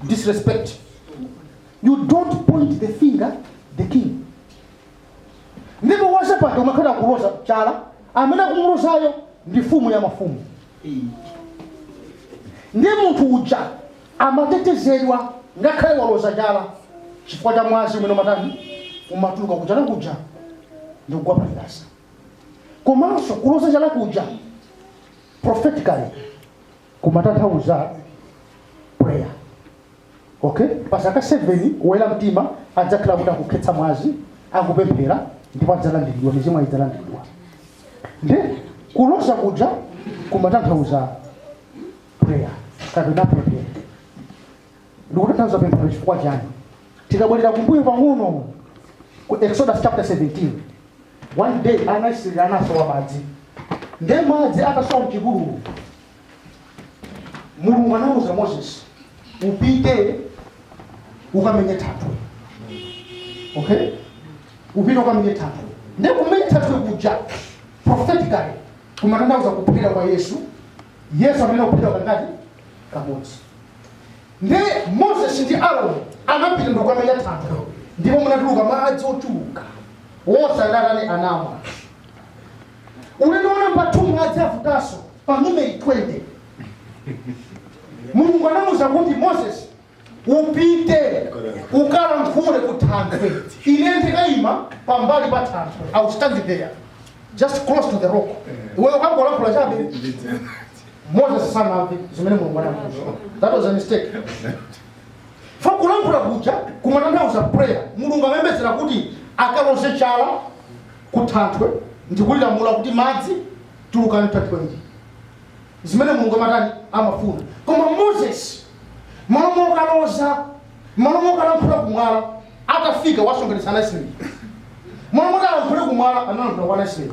disrespect you don't point the finger the king ndipo wansembe amakhala kuloza chala amene akumulozayo ndi mfumu ya mafumu ndi munthu uja amatetezedwa ngakhale waloza chala chifukwa cha mwazi umene umatani umatuluka kuja nakuja ndi kugwa pachilasa komanso kuloza chala kuja prophetically kumatanthauza prayer okay pa zaka 7 woyera mtima adzakhala kuti akukhetsa mwazi akupemphera ndipo adzalandiridwa mizimu idzalandiridwa nde kuloza kuja kumatanthauza prayer kapena pemphero likutanthauza pemphero chifukwa chani tikabwerera kumbuyo pang'ono ku exodus chapter 17 one day anaisraeli anasowa madzi nde madzi atasowa mchipululu mulungu anauza moses upite ukamenye thanthwe okay upite ukamenye thanthwe nde kumenya thanthwe kuja prophetically kumatanthauza kuphedwa kwa yesu yesu amayenera kuphedwa kangati kamodzi Nde Moses ndi Aaron anapita ndikukamenya thanthwe ndipo munatuluka madzi ochuluka. Onse anatani anamwa. Ulendo wa namba 2 madzi avutanso pa Numeri 20. Mulungu anamuuza kuti Moses upite ukalankhule ku thanthwe. Ine ndikayima pambali pa thanthwe. I will stand there just close to the rock. Iweyo ukangolankhula chabe. moses sanamve zimene mulungu anamuuza that was a mistake fa kulankhula kuja kumatanthauza prayer mulungu amayembekezera kuti akaloze chala kuthanthwe ndikulilamula kuti madzi tulukani thanthwe ili zimene mulungu amatani amafuna koma moses malo mokaloza malo mokalankhula kumwala atafika wasonkhanitsa anaisraeli malo moti alankhule kumwala analankhula kwa anaisraeli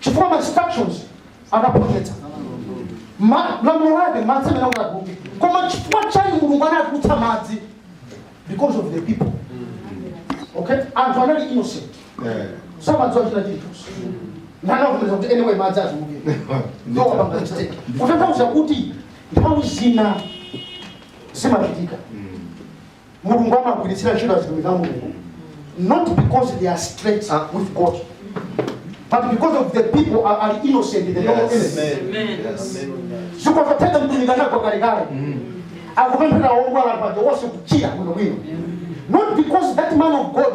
chifukwa ma instructions anaphonyetsa Ma- lamulo lake madzi amayenera kuti atuluke koma chifukwa chani mulungu anatulutsa madzi because of the people okay anthu anali innocent samadziwa china chilichonse ndanakumiza kuti anyway madzi atuluke no wapanga mistake kutanthauza kuti nthawi zina zimachitika mulungu amagwiritsira ntchito atumiki a mulungu not because they are straight with god but because of the people are, are innocent they don't know anything zikutheka mtumiki anagwa kalekale akupemphera odwala paja onse kuchira bwinobwino not because that man of god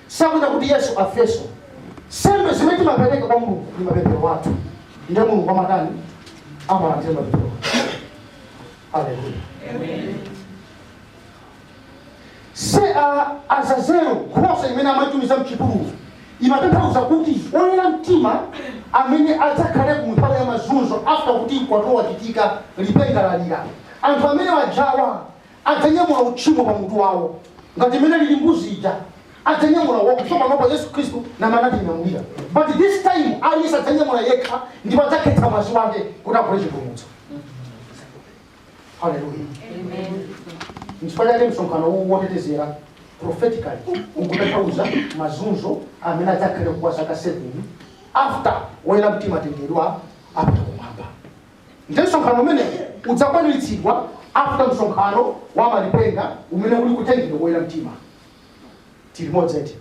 Sakufuna kuti Yesu afeso. Sembe zimene timapereka kwa Mulungu ni mapemphero athu. Ndiye Mulungu amatani? Amalandira mapemphero athu. Haleluya. Amen. So uh, Azazel nkhosa imene amaitumiza mchipululu imatanthauza kuti oyera mtima amene adzakhale ku nthawi ya mazunzo after kuti mkwatulo wachitika lipenga lalira anthu amene ajawa adzanyamula utchimo pa mutu wawo, ngati mmene alili mbuzi ija, adzanyamula wokha, so panopa Yesu Khristu ndi amene anatinyamulira, but this time aliyense adzanyamula yekha ndipo adzakhetsa mwazi wake kuti agule chipulumutso. Hallelujah. Nchifukwa chake msonkhano uwu wotetezera prophetically ukutanthauza mazunzo amene adzakhale kwa zaka 7 after woyera mtima atengedwa apita kumwamba. Ndiye msonkhano umenewu udzakwaniritsidwa after msonkhano wa malipenga umene uli kutengedwa koyera mtima. Tili limodzi eti?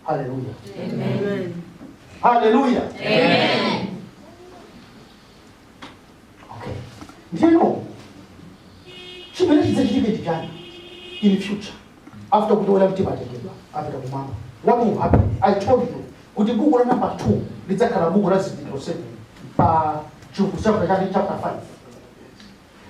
Haleluya. Amen. Haleluya. Amen. Okay. Ndiyeno chimene chidzachitika ndi chani in future after kuti oyera mtima atengedwa apita kumwamba what will happen i told you kuti buku la namba 2 lidzakhala buku la zizindikiro 7 pa chivumbulutso chapter 5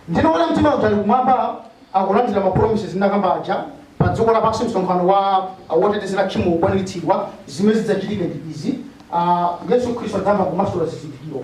ndiyeno oyera mtima uku ali kumwamba akulandira mapromises ndakamba aja pa dziko lapansi msonkhano wa wotetezera tchimo ukukwaniritsidwa zimene zidzachitike ndi izi Ah, yesu khristu adzayamba kumasula zizindikiro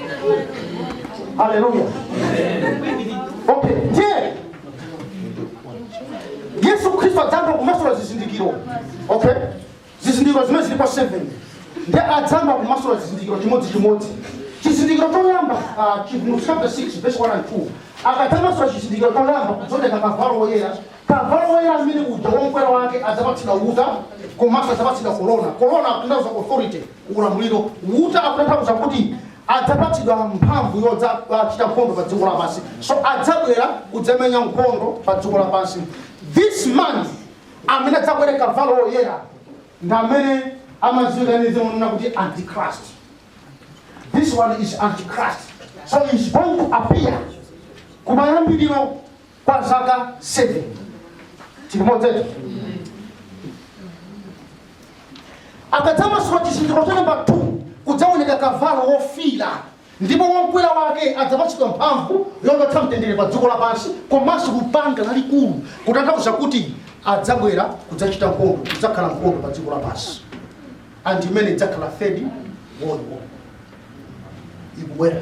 haleluya okay ndiye yesu khristu adzayamba kumasula zizindikiro okay zizindikiro zimene zilipo 7 ndiye adzayamba kumasula zizindikiro chimodzi chimodzi chizindikiro choyamba ah, chi- mu chapter 6 verse 1 and 2 akadzamasula chizindikiro choyamba kudzaoneka kavalo woyera kavalo woyera amene uja womkwera wake adzapatsidwa uta komanso adzapatsidwa korona korona akutanthauza authority ulamuliro uta akutanthauza kuti adzapatsidwa mphamvu yodzachita nkhondo pa dziko lapansi so adzabwera kudzamenya nkhondo pa dziko lapansi this man amene adzakwere kavalo woyera ndi amene amadziwika ndi dzina lonena kuti antichrist this one is antichrist so he's going to appear kumayambiriro kwa zaka 7 tili limodzi eti akadzamasula chizindikiro cha namba 2 kudzaoneka kavalo wofiira ndipo wokwera wake adzapatsidwa mphamvu yochotsa mtendere pa dziko lapansi komanso lupanga lalikulu kutanthauza kuti adzabwera kudzachita nkhondo kudzakhala nkhondo pa dziko lapansi and imene idzakhala third world war ikubwera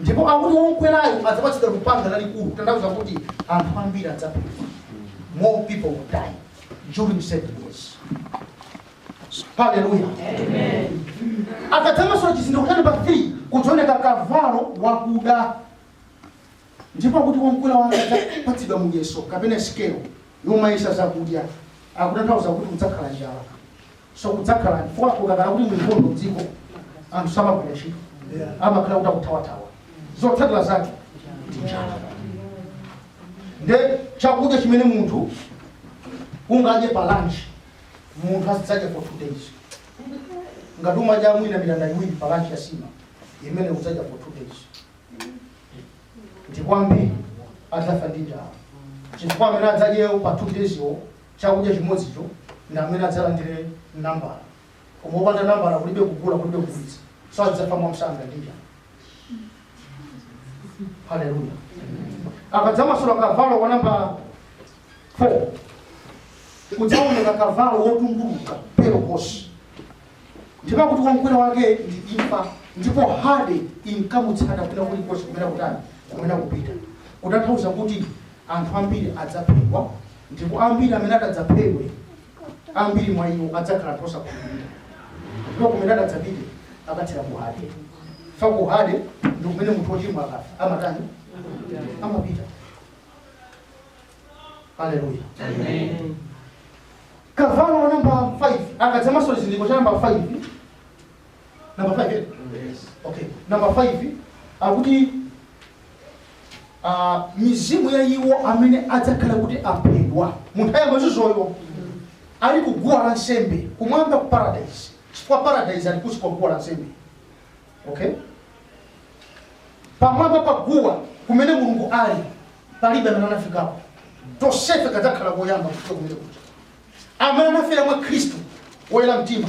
Ndipo akuti womkwerayo adzapatsidwa lupanga lalikulu, kutanthauza kuti anthu ambiri adzaphedwa. More people will die during seven years. Hallelujah. Akadzamasula chizindikiro cha namba 3 kudzaoneka kavalo wakuda ndipo akuti womkwera wake adzapatsidwa muyeso kapena sikelo yomayesa zakudya akutanthauza kuti kudzakhala njala so kudzakhala chifukwa kukakhala kuti ndi nkhondo mdziko anthu samagwira ntchito amakhala kuti akuthawathawa zotsatira zake ndi njala nde chakudya chimene munthu ungadye pa lunch munthu azidzadya for two days ngati umadya mwina mitanda iwiri pa lunch ya nsima imene udzadya for two days ndipo ambiri adzafa ndi njala chifukwa amene adzadyewo pa two days yo chakudya chimodzicho ndi amene adzalandire nambala koma wopanda nambala kulibe kugula kulibe kugulitsa so adzafa mwamsanga ndi njala haleluya akadzamasula kavalo wa namba 4 kudzaoneka kavalo wotumbuluka pale horse ndipo kuti womkwera wake ndi imfa ndipo hade inkamutsata kwina kulikonse kumene kutani kumene kupita kutanthauza kuti Anthu ambiri adzaphedwa, ndipo ambiri amene ati adzaphedwe, ambiri mwa iwo adzakhala anthu osakhulupirira. Ndipo kumene ati adzapite akathera ku Hade. Fa ku Hade ndi kumene munthu wochimwa akafa amatani? Amapita. Haleluya. Amen. Kavalo wa namba 5 akadzamasula chizindikiro cha namba 5 namba 5 eh? Yes. okay namba 5 akuti ah, mizimu ya iwo amene adzakhala kuti aphedwa mu nthawi ya mazunzoyo ali ku guwa la nsembe kumwamba ku paradise chifukwa paradise ali kunsi kwa guwa la nsembe okay pamwamba pa guwa kumene mulungu ali palibe amene anafikapo tonsefe kadzakhala koyamba kufika kumene kuja amene anafera mwa khristu woyera mtima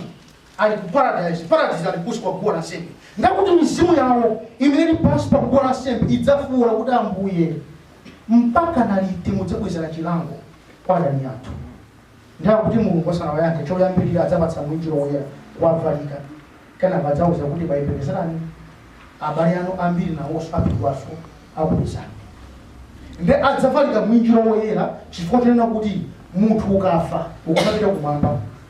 ali ku paradaizi, paradaizi ali kunsi kwa guwa la nsembe, ndakuti mizimu yawo imene ili pansi pa guwa la nsembe idzafuula kuti, Ambuye, mpakana liti mudzabwezera chilango kwa adani athu? Ndiye kuti Mulungu asanawayankhe, choyambirira adzawapatsa mwinjiro woyera kuwavalika, kenako adzawauza kuti, Bayembekezerani, abale anu ambiri nawonso aphedwanso akupezani. Ndiye adzavalika mwinjiro woyera chifukwa chonena kuti munthu ukafa ukamapita kumwamba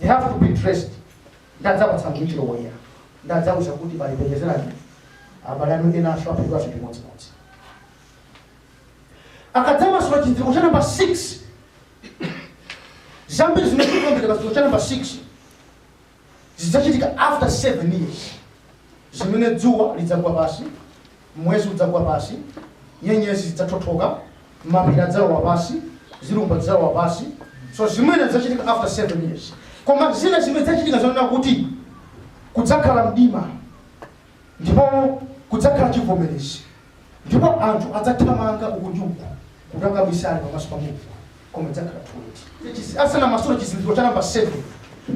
they have to be dressed ndadzawapatsa mwinjiro woyera ndadzawauza kuti bayembekezerani abale anu enanso aphedwa chimodzimodzi akadzamasula chizindikiro cha namba 6 zambiri zimene zikuonekera pachizindikiro cha namba 6 zidzachitika after 7 years zimene dzuwa lidzagwa pansi Mwezi udzagwa pansi, nyenyezi zidzathothoka, mapiri adzalowa pansi, zilumba zidzalowa pansi. So zimene zidzachitika after 7 years. Koma zina zimene zidzachitika zonena kuti kudzakhala mdima ndipo kudzakhala chivomerezi ndipo anthu adzathamanga uku ndi uku kukabisala pamaso pa Mulungu koma idzakhala too late. Asanamasule chizindikiro cha namba 7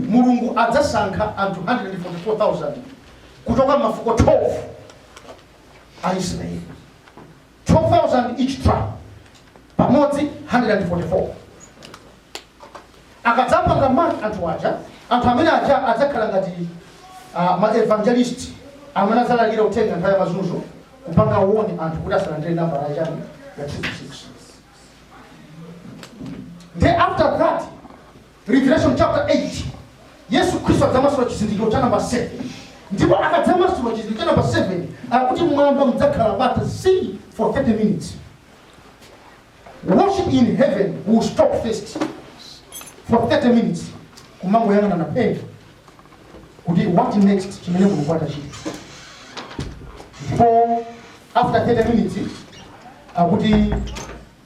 Mulungu adzasankha anthu 144,000 kuchoka mafuko 12 a Israeli 12,000 each tribe pamodzi 144 akadzapanga mark anthu aja anthu amene aja adzakhala ngati uh, maevangelist amene adzalalikira uthenga nthawi ya mazunzo kupanga warn anthu kuti asalandire nambala yachani ya 666 Then after that, Revelation chapter 8 Yesu Khristu adzamasula chizindikiro cha namba 7 ndipo akadzamasula chizindikiro cha namba 7 akuti m'mwamba mudzakhala bata zii for 30 minutes worship in heaven will stop first for 30 minutes kumangoyang'anana phee kuti what next chimene mulungu atachite ndipo after 30 minutes akuti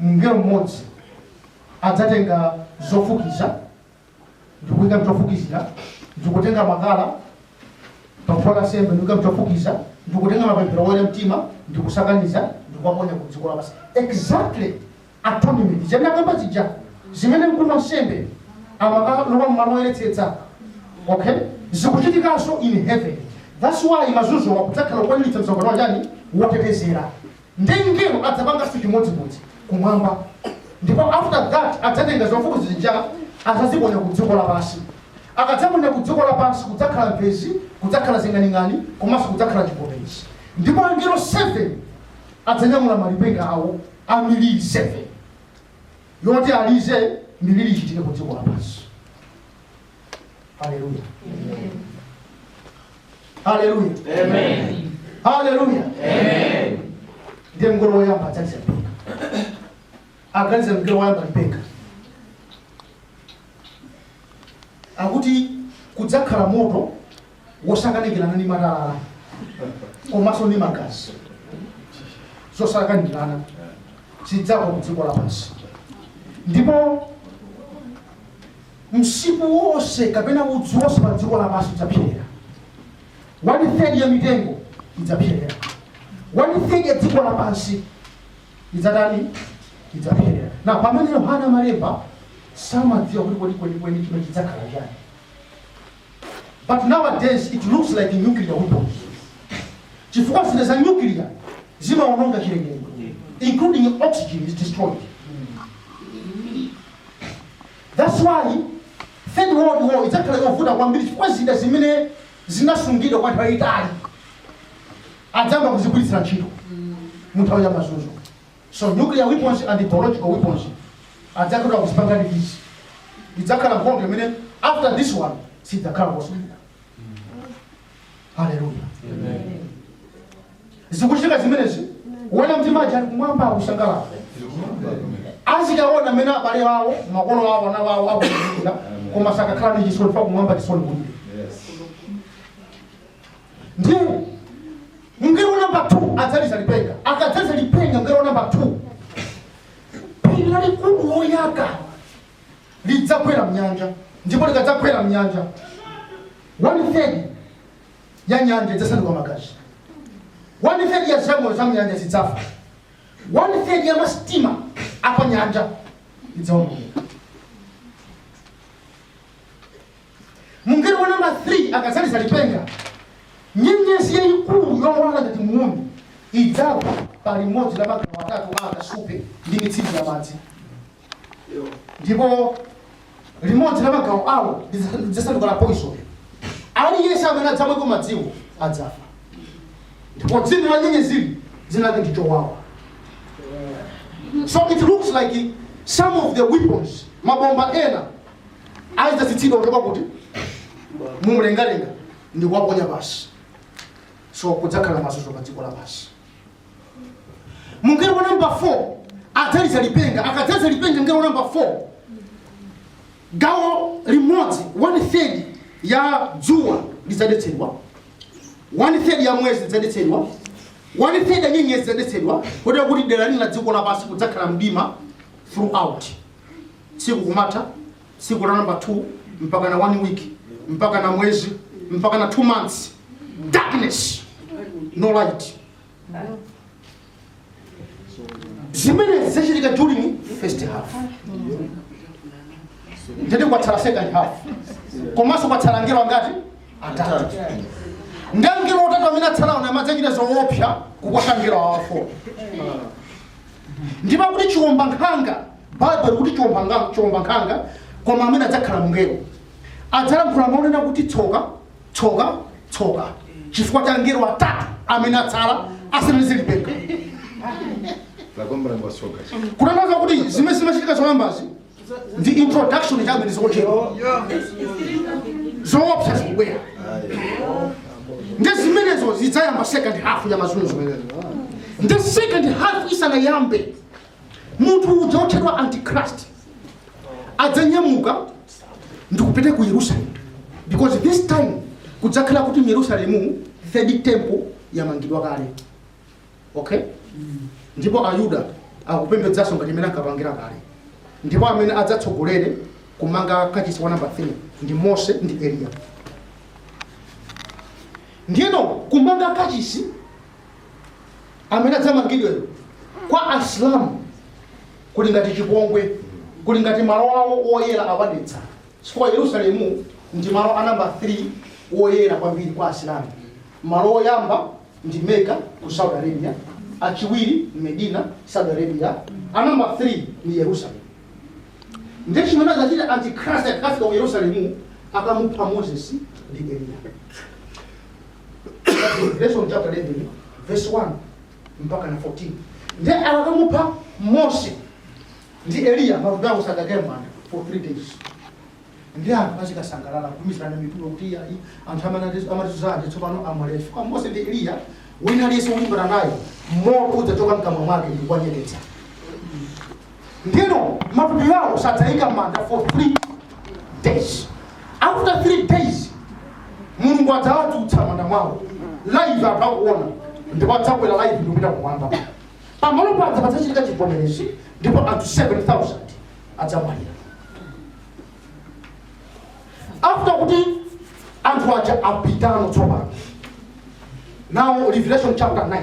mngelo mmodzi adzatenga zofukiza ndi kuika m'chofukizira, ndi kutenga makala pa guwa la nsembe ndi kuika m'chofukiza, ndi kutenga mapemphero a oyera mtima ndi kusakaniza ndi kuwaponya ku dziko lapansi. Exactly atonement ndinakamba zija zimene mkulu wa nsembe amakalowa m'malo oyeretsetsa okay zikuchitikanso in heaven that's why mazunzo akuti adzakhala kukwaniritsa msonkhano wa chani wotetezera Nde mngelo adzapangaso chimodzimodzi kumwamba ndipo after that adzatenga zofukiza zija adzaziponya ku dziko lapasi akadzaponya ku dziko lapasi kudzakhala mphezi kudzakhala zing'aning'ani komaso kudzakhala chivomerezi ndipo angelo 7 adzanyamula malipenga awo a miliri 7 yoti alize miliri ichitike ku dziko lapasi. haleluya haleluya Amen. haleluya Amen. ndiye mngelo woyamba adzaliza lipenga akaliza mngelo woyamba lipenga akuti kudzakhala moto wosakanikirana ndi matalala komanso ndi magazi zosakanikirana zidzagwa ku dziko lapansi ndipo Msipu wonse kapena udzu wonse pa dziko lapansi udzapserera. One third ya mitengo idzapserera. One third ya dziko lapansi idzatani? Idzapserera. Na pamene Yohana amalemba samadziwa kuti kodi kweni kweni chimene chidzakhala chani. But nowadays it looks like nuclear weapons. Chifukwa zida za nuclear zimaononga chilengedwe including oxygen is destroyed. That's why third world war idzakhala yovuta kwambiri chifukwa zida zimene zinasungidwa kwa nthawi yayitali adzayamba kuzigwiritsira ntchito mu nthawi ya mazunzo so nuclear weapons and biological weapons adzakhala kuzipanga ndi izi idzakhala nkhondo imene after this one sidzakhala kosulira haleluya zikuchitika zimenezi oyera mtima aja ali kumwamba akusangalala azikaona mmene abale awo makolo awo ana awo akulira koma sakakhala ndi chisoni paja kumwamba chisoni kulibe ndiye mngelo namba 2 adzaliza lipenga akadzaliza lipenga mngelo namba 2 phiri lalikulu loyaka lidzagwera m'nyanja, ndipo likadzagwera m'nyanja, one third ya nyanja idzasanduka magazi, one third ya zamoyo za m'nyanja zidzafa, one third ya masitima apanyanja idzaonongeka. Mngelo wa namba 3 akadzaliza lipenga, nyenyezi yayikulu yowala ngati muuni idzagwa pa limodzi la magawo atatu a akasupe ndi mitsinje ya madzi. ndipo limodzi la magawo awo lidzasanduka la poison aliyense amene adzamweko madziwo adzafa ndipo dzina la nyenyeziyi dzina lake ndi chowawa so it looks like some of the weapons mabomba ena adzatsitsidwa kuchoka kuti mumlengalenga ndi kuwaponya pansi so kudzakhala mazunzo pa dziko lapansi mngelo wa namba 4 adzaliza lipenga akadzaliza lipenga mngelo wa namba 4 gawo limodzi one third ya dzuwa lidzadetsedwa one third ya mwezi lidzadetsedwa one third ya nyenyezi lidzadetsedwa kotero kuti dera lina la dziko lapansi kudzakhala mdima throughout tsiku kumatha tsiku la number 2 mpaka na one week mpaka na mwezi mpaka na two months darkness no light zimene zachitika during first half ndiye kwatsala second half komanso kwatsala angelo angati atatu ndi angelo atatu amene atsalawo nawo adzachita zoopsa kuposa angelo awa 4 wo ndipo kuti chiwombankhanga Baibulo likuti chiwombankhanga, koma amene adzakhala mngelo adzalankhula mawu onena kuti tsoka, tsoka, tsoka, chifukwa cha angelo atatu amene atsala asanalize lipenga. Kutanthauza kuti zimene zimachitika zoyambazi ndi introduction chabe ndi zochepa zoopsa zikubwera ndi zimenezo zidzayamba second half ya mazunzo ndi second half isanayambe munthu uja wotchedwa antichrist adzanyamuka ndikupita ku yerusalemu because this time kudzakhala kuti myerusalemu third temple yamangidwa kale okay ndipo ayuda akupembedzanso ngati mmene ankapangira kale ndipo amene adzatsogolere kumanga kachisi wa namba 3 ndi mose ndi eliya ndiyeno kumanga kachisi amene adzamangidweyo kwa asilamu kuli ngati chipongwe kuli ngati malo awo oyera awadetsa chifukwa yerusalemu ndi malo a namba 3 oyera kwambiri kwa asilamu malo oyamba ndi meka ku saudi arabia achiwiri medina saudi arabia a namba 3 ndi yerusalemu ndiye chimene adzachita antichrist akafika ku yerusalemu akamupha moses ndi eliya Revelation chapter 11 verse 1 mpaka na 14 ndiye akakamupha mose ndi eliya matupi awo sadzakwirira for three days ndi anthu azikasangalala kutumizana mitulo kuti iyayi anthu amatizunza aja tsopano amwalira chifukwa mose ndi eliya wina aliyense wolimbana naye moto udzachoka mkamwa mwake ndi kuwanyeketsa Ndiyeno matupi awo sadzaikidwa m'manda for three days. After three days, Mulungu adzawadzutsa m'manda mwawo. Live anthu akuona ndipo adzakwera live ndikupita kumwamba. Pamalo paja padzachitika chivomerezi ndipo anthu 7,000 adzamwalira. After kuti anthu aja apitano tsopano. Now Revelation chapter 9.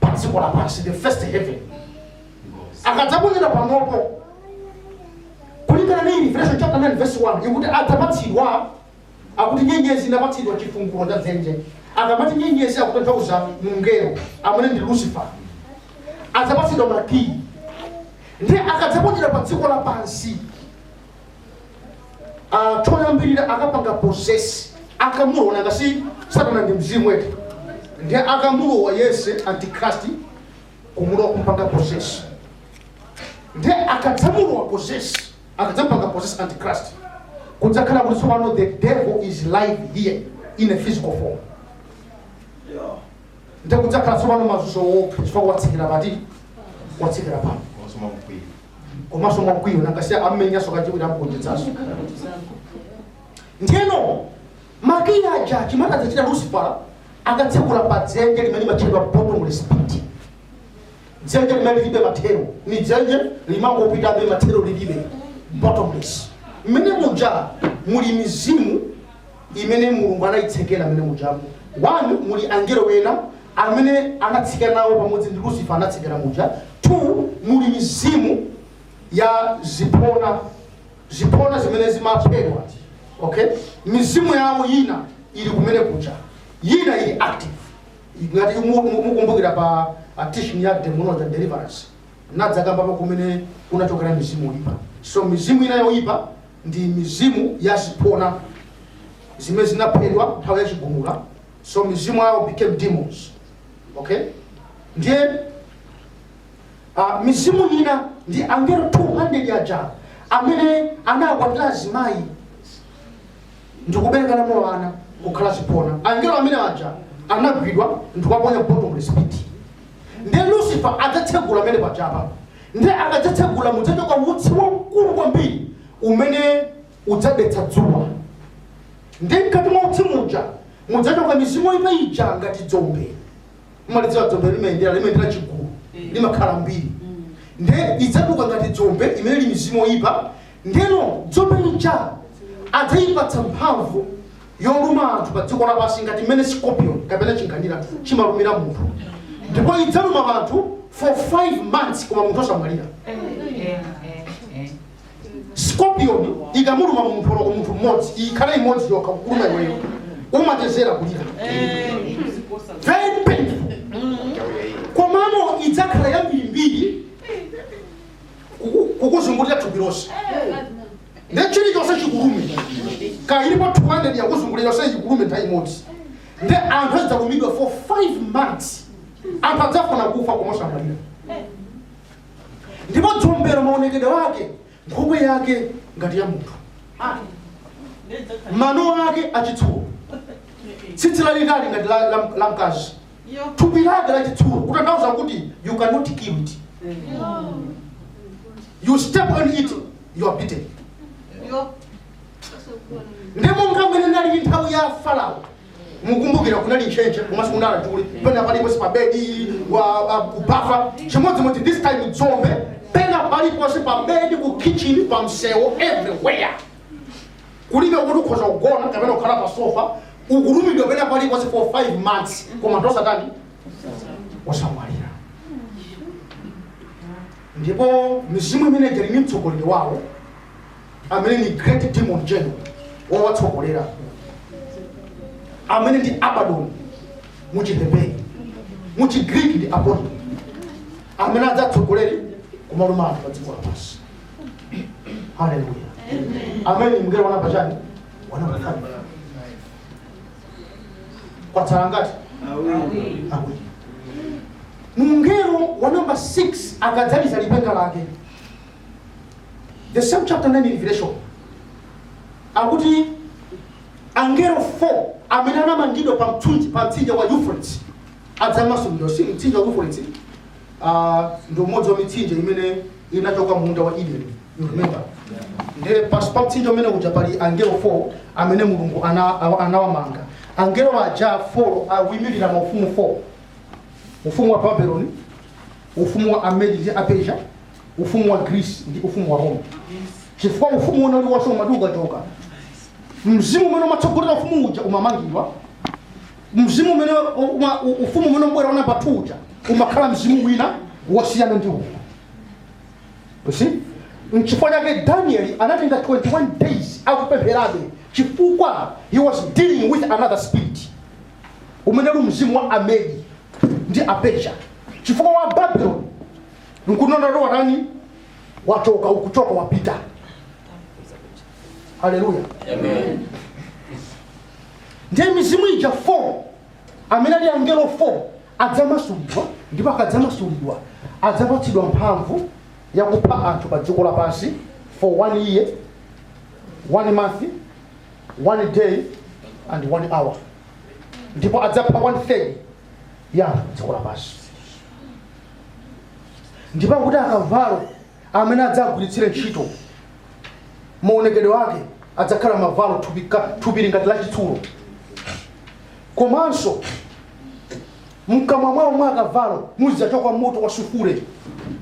pa dziko lapansi the first heaven akadzaponyedwa panopo kulingana ndi revelation chapter 9 verse 1 ikuti adzapatsidwa akuti nyenyezi inapatsidwa chifungulo cha dzenje akamati nyenyezi akutanthauza mngelo amene ndi lucifer adzapatsidwa makiyi ndiye akadzaponyedwa pa dziko lapansi Ah, choyambirira akapanga possess akamulowa nanga si satana ndi mzimu eti ndiye akamulowa yese antichrist kumulowa kumpanga possess ndiye akadzamulowa possess akadzapanga possess antichrist kudzakhala kuti tsopano the devil is live here in a physical form ndi kudzakhala tsopano mazunzo oopsa chifukwa watsikira pati watsikira pano komanso mwamkwiyo komanso mwakwiyo nanga si ammenyanso kachiwiri amgonjetsanso ndiyeno makiyi aja chimene adzachita Lucifer akatsekula pa dzenje limene limatchedwa bottomless pit dzenje limene lilibe mathero ndi dzenje limangopitabe mathero lilibe bottomless mmene muja muli mizimu imene Mulungu anaitsekera mmene mujamo. 1 muli angelo ena amene anatsika nawo pamodzi ndi Lucifer anatsekeredwa muja. 2 muli mizimu ya ziphona ziphona zimene zimaphedwa okay mizimu yawo yina ili kumene kuja yina ili active ngati mu- mu- mukumbukira pa uh, teaching ya demonology and deliverance nadzakambapo kumene kunachokera mizimu yoipa so mizimu ina yoipa ndi mizimu ya ziphona zimene zinaphedwa nthawi ya chigumula so mizimu yawo became demons okay ndiye uh, mizimu ina ndi angelo 200 aja amene anakwatira azimayi ndikubereka nawo ana kukhala ziphona angelo amene aja anagwidwa ndikuwaponya bottomless pit Ndiye Lucifer adzatsegula pamene pajapa. Ndiye akadzatsegula mudzatuluka utsi waukulu kwambiri umene udzadetsa dzuwa. Ndiye mkati mwa utsi muja mudzatuluka mizimu yoipa ija ngati dzombe. Mumalidziwa dzombe limayendera limayendera chigulu limakhala lambiri. Ndiye idzatuluka ngati dzombe imene ili mizimu yoipa. Ndiyeno dzombe lija adzayipatsa mphamvu yoluma anthu padziko lapansi ngati mmene scorpion kapena chinkhanira chimalumira munthu ndipo idzaluma anthu for 5 months koma munthu osamwalira scorpion ikamuluma munthu oloko munthu mmodzi ikhale imodzi yokha kukuluma iweyo umachezera kulira very painful komano idzakhala yambirimbiri kuku- kukuzungulira thupi lonse nde chilichonse chikulume kaya ilipo 200 yakuzungulira yonse ikulume nthawi imodzi nde anthu adzalumidwa for 5 months anthu adzafuna kufa koma osamwalira ndipo dzombelo maonekedwe ake nkhope yake ngati ya munthu mano ake achitsulo tsitsi lalitali ngati la, la, la mkazi thupi lake la chitsulo kutanthauza kuti you cannot kill it you step on it you are bitten ndi monga mmene inali nthawi ya Farao mukumbukira kunali ntchentche komanso kunali achule pena paliponse pa bedi wa- wa- kubafa chimodzimodzi this time dzombe pena paliponse pa bedi ku kitchen pa msewu everywhere Kulibe kuti ukhoza kugona kapena kukhala pa sofa ukulumidwa pena paliponse for 5 months koma anthu osatani osamwalira ndipo mizimu imene ija ni mtsogoleri wawo amene ni great demon general wowatsogolera amene ndi abaddon mu chiheberi mu chigriki ndi apollyon amene adzatsogolere kumaluma anthu pa dziko lapansi haleluya amen mngelo wanamba chani wanamba chani kwatsala angati awiri mngelo wa namba 6 akadzaliza lipenga lake the same chapter 9 revelation akuti angelo 4 amene anamangidwa pa mtsinje pa mtsinje wa euphrates adzamasulidwa si mtsinje wa euphrates a, ndi umodzi wa mitsinje imene inachoka mu munda wa Eden. You remember? Ndiye pansi pa mtsinje umene uja pali angelo 4 amene Mulungu ana- awa- anawamanga. Angelo aja 4 akuimirira maufumu 4. Ufumu wa Babeloni, ufumu wa Amedi ndi Apersia, ufumu wa Greece ndi ufumu wa Roma. Chifukwa ufumu unali wonse umati ukachoka. Mzimu umene umatsogolera ufumu uja umamangidwa mzimu umene uma- u- ufumu umene ukubwera namba 2 uja umakhala mzimu wina wosiyana ndi uwu You see? nchifukwa chake danieli anatenga 21 days akupempherabe chifukwa he was dealing with another spirit umene uli mzimu wa amedi ndi aperisiya chifukwa wa babylon nkunondoto watani wachoka ukuchoka wapita haleluya ndiye mizimu ija 4 amene ali angelo 4 adzamasulidwa ndipo akadzamasulidwa adzapatsidwa mphamvu yakupha anthu pa dziko lapansi for one year one month one day and one hour ndipo adzapha one third ya anthu pa dziko lapansi ndipo akuti akavalo amene adzagwiritsire ntchito maonekedwe ake adzakhala mavalo thupi ka- thupi lili ngati la chitsulo komanso mkamwa mwawo mwa akavalo muzidzachoka moto wa sufure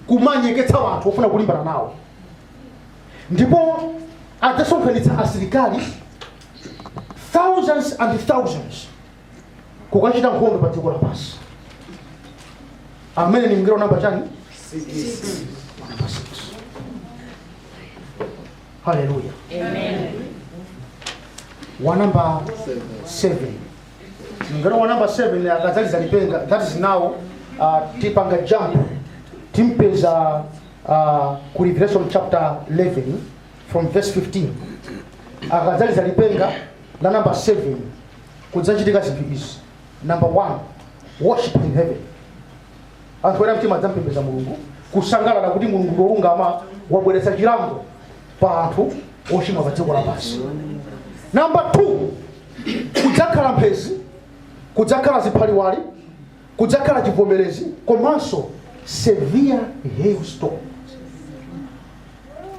kumanyeketsa anthu ofuna kulimbana nawo ndipo adzasonkhanitsa asilikali thousands and thousands kukachita nkhondo pa dziko lapansi ameneyo ni mngelo namba chani namba 6 haleluya wa namba 7 mngelo wa namba 7 akadzaliza lipenga that is now uh, tipanga jump timpeza uh, ku revelation chapter 11 from verse 15 akadzaliza lipenga la namba 7 kudzachitika zinthu izi number one worship in heaven anthu oyera mtima adzampembeza mulungu kusangalala kuti mulungu ndi wolungama wabweretsa chilango pa anthu ochimwa pa dziko lapansi namba 2 kudzakhala mphezi kudzakhala ziphaliwali kudzakhala chivomerezi komanso severe hailstorm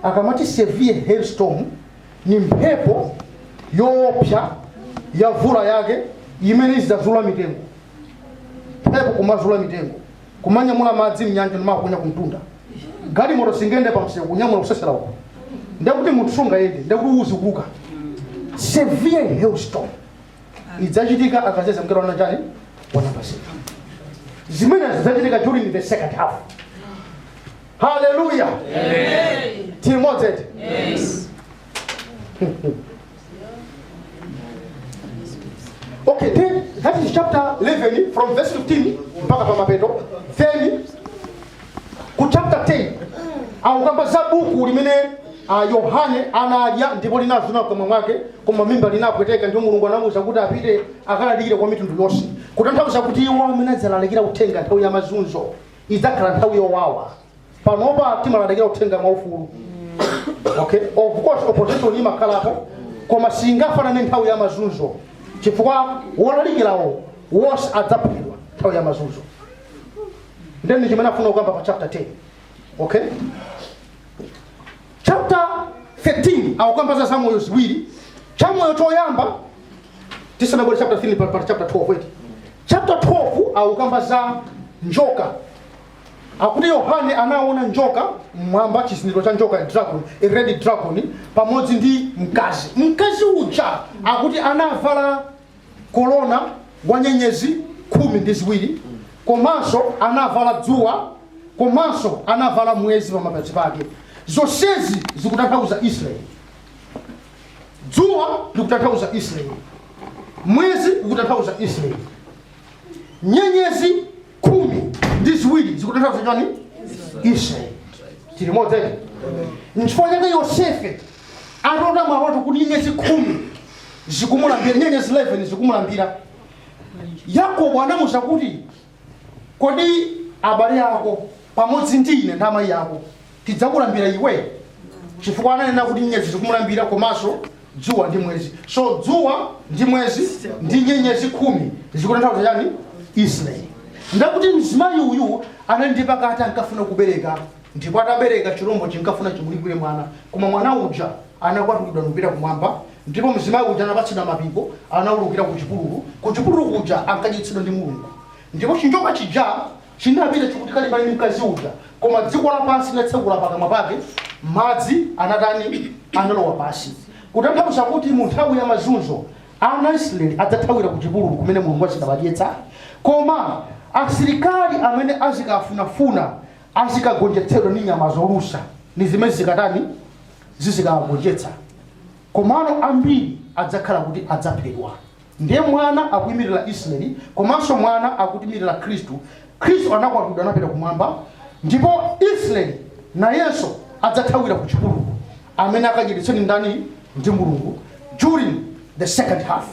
akamati severe hailstorm ni mphepo yoopsa ya mvula yake imene izidzazula mitengo mphepo kumazula mitengo kumanyamula madzi mnyanja ndimakunya kumtunda galimoto singende pamseu kunyamula kusesera uko ndekuti munthu sungayende ndekuti uzikuka severe hailstorm idzachitika akadzaliza mngelo wa namba chani wa namba 7 zimene zidzachitika during the second half haleluya timutsate okay that is chapter 11 from verse 15 mpaka pa mapeto then ku chapter 10 akukamba za buku limene ah, yohane anadya ndipo linazuna mkamwa mwake koma mmimba linapweteka ndipo mulungu anamuuza kuti apite akalalikire kwa mitundu yonse kutanthauza kuti iwo amene adzalalikira uthenga nthawi ya mazunzo idzakhala nthawi yowawa panopa timalalikira uthenga mwaufulu okay of course opposition imakhalapo koma singafanane nthawi ya mazunzo chifukwa wolalikirawo wonse adzaphedwa nthawi ya mazunzo ndeni chimene afuna kukamba pa chapter 10 okay Chapter 13 akukamba za zamoyo ziwiri chamoyo choyamba tisanabwere chapter 13 pa, pa chapter 12 eti chapter 12 akukamba za njoka akuti yohane anaona njoka mmwamba chizindikiro cha njoka dragon a red dragon pamodzi ndi mkazi mkazi uja akuti anavala korona wa nyenyezi khumi ndi ziwiri komanso anavala dzuwa komanso anavala mwezi pamapazi pake zonsezi zikutanthauza israeli dzuwa likutanthauza israeli mwezi ukutanthauza israeli nyenyezi khumi ndi ziwiri zikutanthauza chani israeli tili modzi nchifukwa chake yosefe atalota maloto kuti nyenyezi khumi zikumulambira nyenyezi 11 zikumulambira yakobo anamuza kuti kodi abale yako pamodzi ndi ine ndi amayi ako tidzakulambira iwe chifukwa ananena kuti nyenyezi zikumulambira komanso dzuwa ndi mwezi so dzuwa ndi mwezi ndi nyenyezi khumi zikutanthauza chani israeli ndakuti mzimayi uyu anali ndi pakati ankafuna kubereka ndipo atabereka chilombo chinkafuna chimulikwire mwana koma mwana uja anakwatulidwa n'kupita kumwamba ndipo mzimayi uja anapatsidwa mapiko anaulukira ku chipululu ku chipululu kuja ankadyetsedwa ndi mulungu ndipo chinjoka chija Chinapita chikuti kalimbana ndi mkazi uja koma dziko lapansi linatsekula pakamwa pake madzi anatani analowa pasi kutanthauza kuti mu nthawi ya mazunzo ana Israeli adzathawira ku chipululu kumene Mulungu azikawadyetsa koma asilikali amene azikafunafuna azikagonjetsedwa ndi nyama zolusa ndi zimene zikatani zizikawagonjetsa komano ambiri adzakhala kuti adzaphedwa Ndiye mwana akuimirira Isiraeli komanso mwana akuimirira Khristu. Khristu anakwatulidwa anapita kumwamba ndipo Isiraeli nayenso adzathawira ku chipululu. Amene akadyetsedwa ndi ndani? Ndi Mulungu during the second half.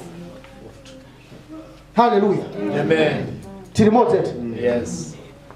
Hallelujah. Amen. Tili modzi eti? Yes.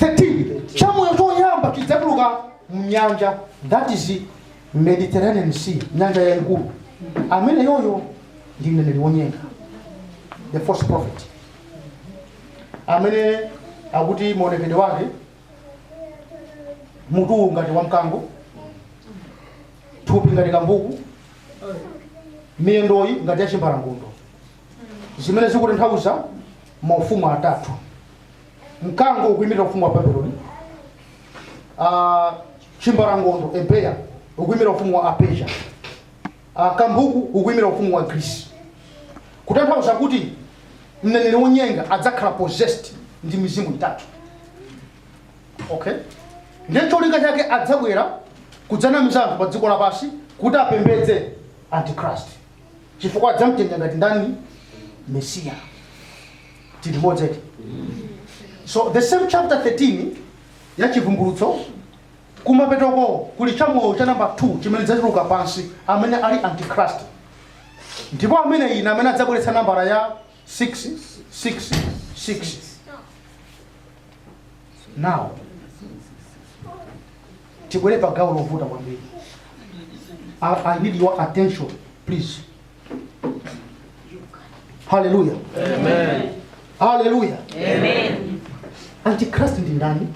13 chamoyo choyamba chidzatuluka mnyanja that is mediterranean sea nyanja yayikulu amene yoyo ndi mneneri wonyenga the false prophet amene akuti maonekedwe wake mutuwu ngati wa mkango thupi ngati kambuku miyendoyi ngati ya chimbalangondo zimene zikutanthauza maufumu atatu mkango ukuimira ufumu wa babeloni Ah, chimbalangondo a bear ukuimira ufumu wa apesiya Ah, kambuku ukuimira ufumu wa grisi kutanthauza kuti mneneri wonyenga adzakhala possessed ndi mizimu itatu okay ndiye cholinga chake adzabwera kudzanamiza anthu pa dziko lapansi kuti apembedze antichrist chifukwa adzamtenga ngati ndani mesiya tili modzi eti so the same chapter 13 ya chivumbulutso kumapetoko kuli chamoyo cha namba 2 chimene chidzatuluka pansi amene ali antichrist ndipo amene ina amene adzabweretsa nambala ya 6 6 6 now tibwere pa gawo lovuta kwambiri I, i need your attention please haleluya haleluya antichrist ndi ndani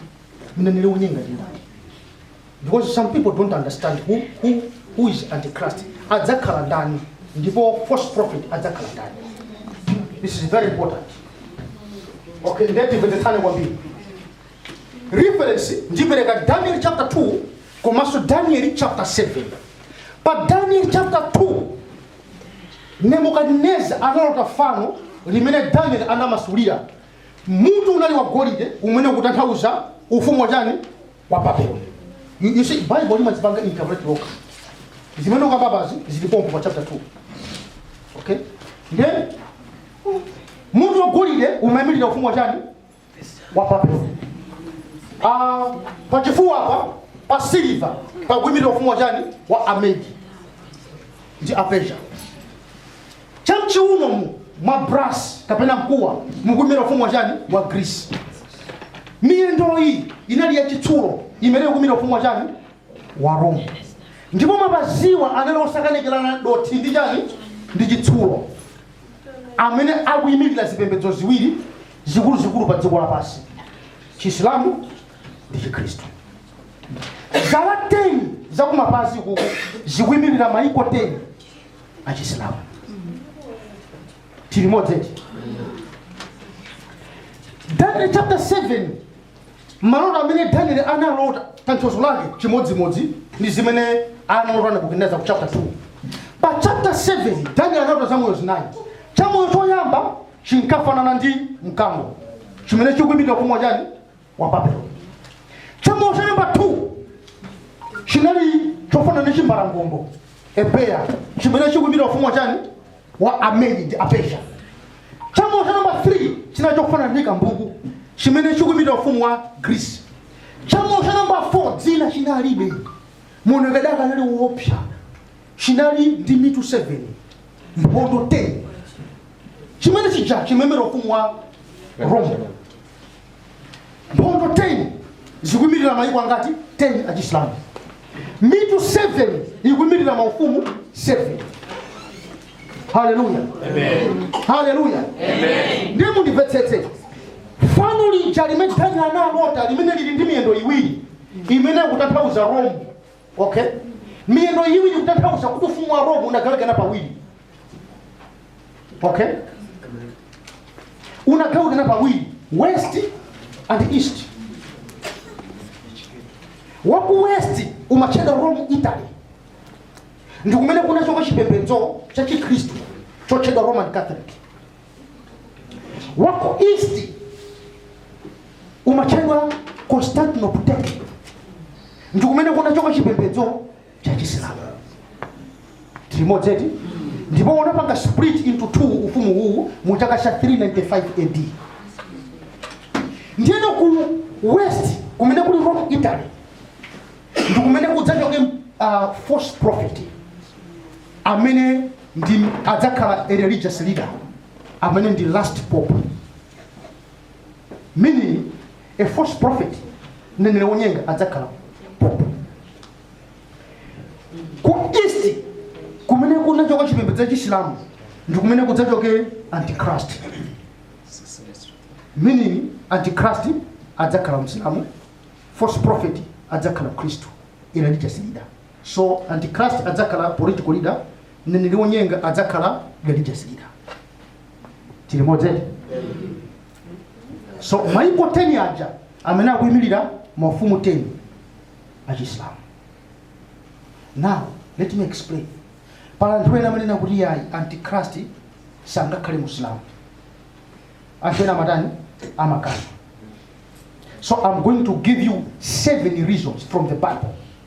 mneneri wonyenga ndi ndani because some people don't understand who, who, who is antichrist adzakhala ndani ndipo false prophet adzakhala ndani this is very important okay nde timvetsetsane kwambiri reference ndipereka daniel chapter 2 komanso daniel chapter 7 pa daniel chapter 2 nebukadineza analota fano limene daniel anamasulira mutu unali wa golide umene ukutanthauza ufumu wa chani wa babeloni You- you see, bible limazipanga interpret lokha zimene ndikukambazi zili pompo pa chapter 2 okay then mutu wa golide umayimirira ufumu wa chani wa babulo Ah, pachifuwa apa pa siliva pakuimira ufumu wa chani wa amedi ndi apersia chamchiuno umu mwa brass kapena mkuwa mukuimira ufumu wa chani wa greece miyendo iyi inali yachitsulo imene ikuimira ufumu wa chani wa roma ndipo mapaziwa anali osakanikirana dothi ndi chani ndi chitsulo amene akuyimirira zipembedzo ziwiri zikuluzikulu pa dziko lapansi chisilamu ndi chikhristu zala 10 zakumapazi uku zikuimirira maiko 10 achisilamu tili limodzi eti daniel chapter 7 maloto amene daniel analota tanthauzo lake chimodzimodzi ndi zimene analota nebukadineza ku chapter 2 pa chapter 7 daniel analota zamoyo zinayi chamoyo choyamba chinkafanana ndi mkango chimene chikuimira ufumu wa chani wa babeloni chamoyo cha number 2 chinali chofanana ndi chimbalangondo a bear chimene chikuimira ufumu wa chani wa amedi ndi apersia chamoyo cha number 3 chinali chofanana ndi kambuku chimene chikuimira ufumu wa grisi chamoyo cha number 4 dzina chinalibe maonekedwe ake anali woopsa chinali ndi mitu 7 mphondo 10 chimene chija chimayimira ufumu wa roma mphondo 10 zikuyimirira mayiko angati 10 achisilamu mitu 7 ikuyimirira maufumu 7 haleluya haleluya ndiye mundimvetsetse fano lija limene danieli analota limene lili ndi miyendo iwiri imene ikutanthauza rome okay miyendo iwiri kutanthauza kuti ufumu wa roma unagawikana pawiri okay unagawikana pawiri west and east waku west umatchedwa rome italy ndi kumene kunachoka chipembedzo cha chikhristu chotchedwa roman catholic waku east umatchedwa constantinople ndi kumene kunachoka chipembedzo cha chisilamu tili limodzi eti ndipo unapanga split into two ufumu uwu mu chaka cha 395 ad ndiyeno ku west kumene kuli rome italy ndi kumene kudzachoke uh, false prophet amene ndi adzakhala a religious leader amene ndi last pope meaning a false prophet mneneri wonyenga adzakhala pope ku east kumene kunachoka chipembedzo cha chisilamu ndi kumene kudzachoke antichrist meaning antichrist adzakhala msilamu false prophet adzakhala mkhristu a religious leader So Antichrist adzakhala political leader, mneneri wonyenga adzakhala religious leader. Tili limodzi eti? So maiko 10 aja amene akuyimirira mafumu 10 achisilamu. Now let me explain. Pali anthu ena amanena kuti yayi Antichrist sangakhale Musilamu. Anthu ena amatani amakana. So I'm going to give you seven reasons from the Bible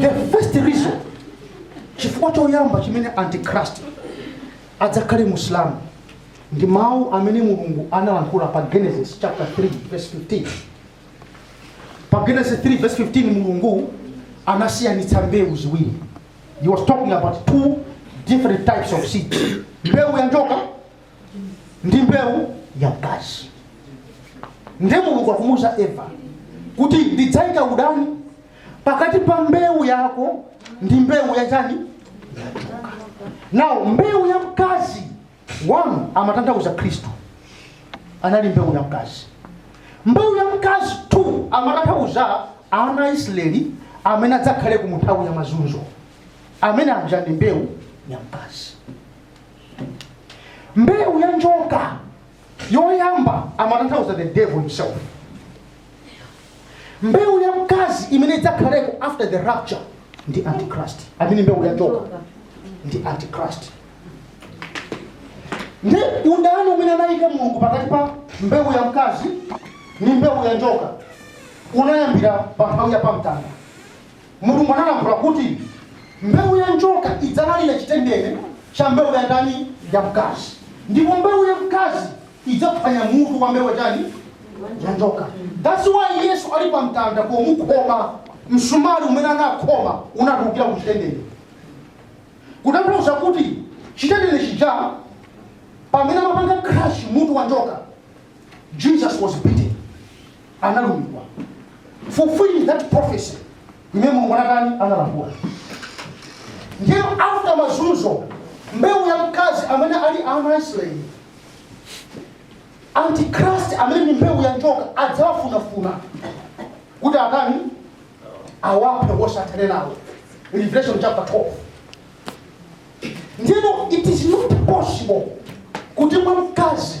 the first reason chifukwa choyamba chimene antichrist adzakhale musilamu ndi mawu amene mulungu analankhula pa genesis chapter 3 verse 15 pa genesis 3 verse 15 mulungu anasiyanitsa mbewu ziwiri he was talking about two different types of seeds mbewu ya njoka ndi mbewu ya mkazi ndiye mulungu akumuuza eva kuti ndidzaika udani pakati pa mbewu yako ndi mbewu ya chani ya njoka now mbewu ya mkazi one amatanthauza khristu anali mbewu ya mkazi mbewu ya mkazi two amatanthauza ana a israeli amene adzakhale ku munthawi ya mazunzo amene aja ndi mbewu ya mkazi mbewu ya njoka yoyamba amatanthauza the devil himself mbewu ya mkazi imene idzakhaleko after the rapture ndi antichrist amene mbewu ya njoka ndi antichrist nde udani umene anayika mulungu pakati pa mbewu ya mkazi ndi mbewu ya njoka unayambira pa nthawi ya pamtanda Mulungu analankhula kuti mbewu ya njoka idzalalira chitendene cha mbewu ya ndani? Ya mkazi. Ndipo mbewu ya mkazi idzaphwanya mutu wa mbewu ya chani? Ya njoka. That's why Yesu ali pa mtanda pomukhoma msumali umene anakhoma unatulukira ku chitendene, kutanthauza kuti chitendene chija pamene amapanga crush mutu wa njoka, Jesus was bitten. analumidwa fulfilling that prophecy imene mulungu anatani analankhula ndiye after mazunzo mbewu ya mkazi amene ali ana a israeli antikrist amene ni mbewu ya njoka adzawafunafuna kuti atani awaphe athane nawo revelation chapter 12 ndipo it is not possible kuti mwa mkazi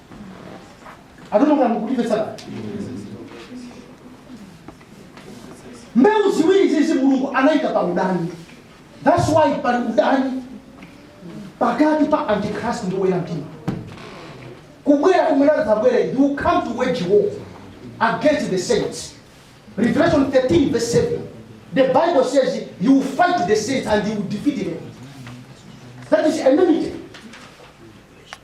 I don't know ka tikumvetsana mbewu ziwiri izi mulungu anayika pa udani thats why pali udani pakati pa antikrist ndi oyera mtima kubwera kumene adzabwere he will come to wage war against the saints revelation 13 verse 7 the bible says he will fight the saints and he will defeat them that is enmity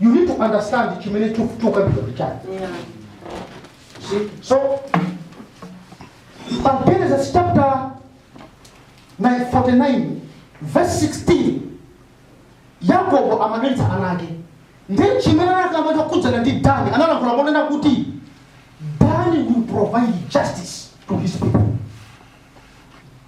you need to understand chimene chu- chokambidwa ndi chani Yeah. See? so pa genesis chapter 9, 49 verse 16 yakobo akudalitsa ana ake nde chimene anakamba chokhudzana ndi dani analankhula ponena kuti dani will provide justice to his people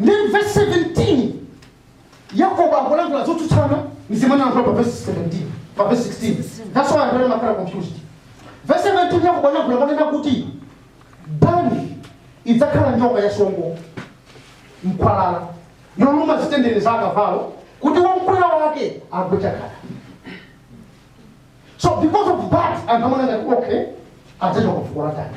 Ndiye mu vesi 17 Yakobo akulankhula zotsutsana ndi zimene analankhula pa vesi 17 pa vesi 16. That's why anthu amakhala confused. Vesi 17 Yakobo analankhula ponena kuti Dani idzakhala njoka ya songo mkwalala yoluma zitendere za akavalo kuti womkwera wake agwe chagada so because of that anthu amati okay adzachokera fuko la dani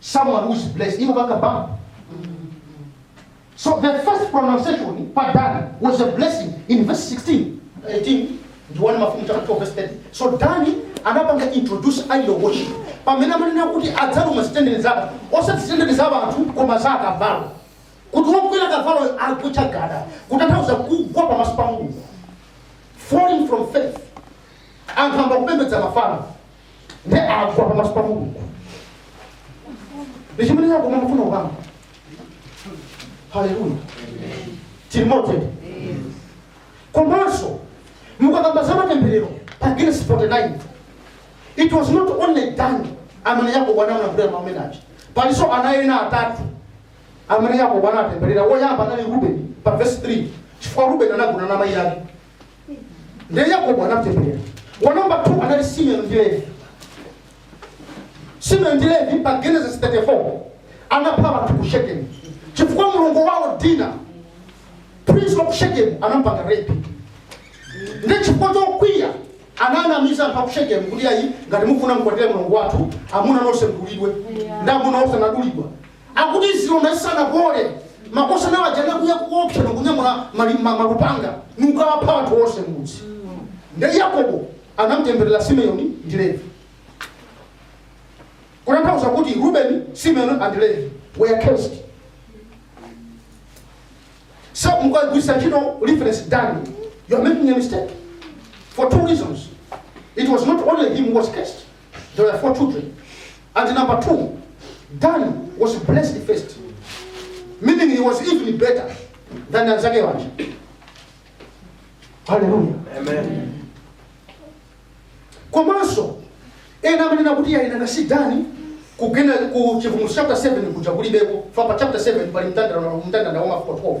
someone who is blessed imupanga bump so the first pronunciation pa dani was a blessing in verse 16 18 ndi 1 mafumu chapter 12 verse 30 so dani anapanga introduce idol worship pamene amanena kuti adzaluma zitendene zake osati zitendene za anthu koma za akavalo kuti wokwera kavaloyo agwe chagada kutanthauza kugwa pamaso pa mulungu falling from faith anthu ayamba kupembedza mafano ndiye agwa pamaso pa mulungu ndi chimene yakobo amafuna kukamba haleluya timote komanso mukakamba za matemberero pa genesis 49 it was not only dani amene yakobo anamulankhulira mau amene aja palinso ana ena atatu amene yakobo anatemberera woyamba anali rubeni pa vesi 3 chifukwa rubeni anagona na mayi ake ndiye yakobo anamtemberera wa namba 2 anali simeoni ndi levi simeoni ndi levi pa genesis 34 anapha anthu ku shekemu chifukwa mlongo wawo dina prince wa ku shekemu anampanga rape ndiye chifukwa chokwiya ananamiza anthu akushekemu kuti ayi ngati mufuna mkwatire mlongo wathu amuna nonse mdulidwe ndi amuna onse anadulidwa Akuti zilonda zisanapole, makosana waja anakwiya koopsa nokunyamula mali- ma- malupanga nukawapha anthu onse m'mudzi. Nde Yakobo anamtemberera Simeoni ndi Levi. Kutanthauza kuti Rubeni, Simeoni and Levi were cursed. So mukagwiritsa ntchito reference Dani, you are making a mistake for two reasons. It was not only him who was cursed, There were four children. And number two, Dani was blessed first. Meaning he was even better than anzake waja. Hallelujah. Amen. komanso ena amanena kuti ayi nanga si dani kugenda ku chivumbulutso chapter 7 kuja kulibeko chifukwa pa chapter 7 pali mndandanda mndandanda wa mafuko 12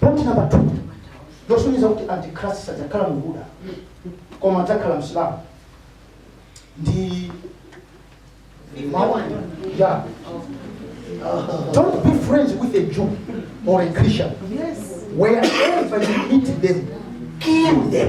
point number two yosonyeza kuti antichrist sadzakhala muyuda koma adzakhala msilamu ndi mawu ya don't be friends with a jew or a christian wherever you meet them kill them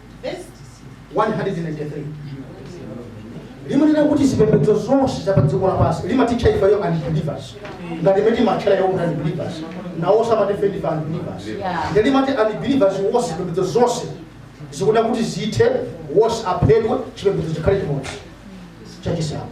193 limanena kuti zipembedzo zonse za padziko lapansi limatitcha ifeyo unbelievers ngati mmene timatchera iwo kuti unbelievers nawonso amati ife ndife unbelievers nde limati unbelievers wonse zipembedzo zonse zikuda kuti zithe wonse aphedwe chipembedzo chikhale chimodzi chachisilamu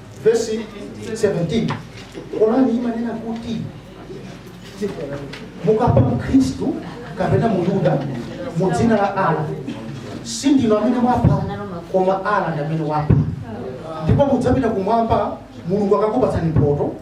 vesi 17 Korani imanena kuti mukapha mkhristu kapena muyuda mu dzina la Allah si ndinu amene mwapha koma Allah ndi amene wapha ndipo mudzapita kumwamba mulungu akakupatsani mphoto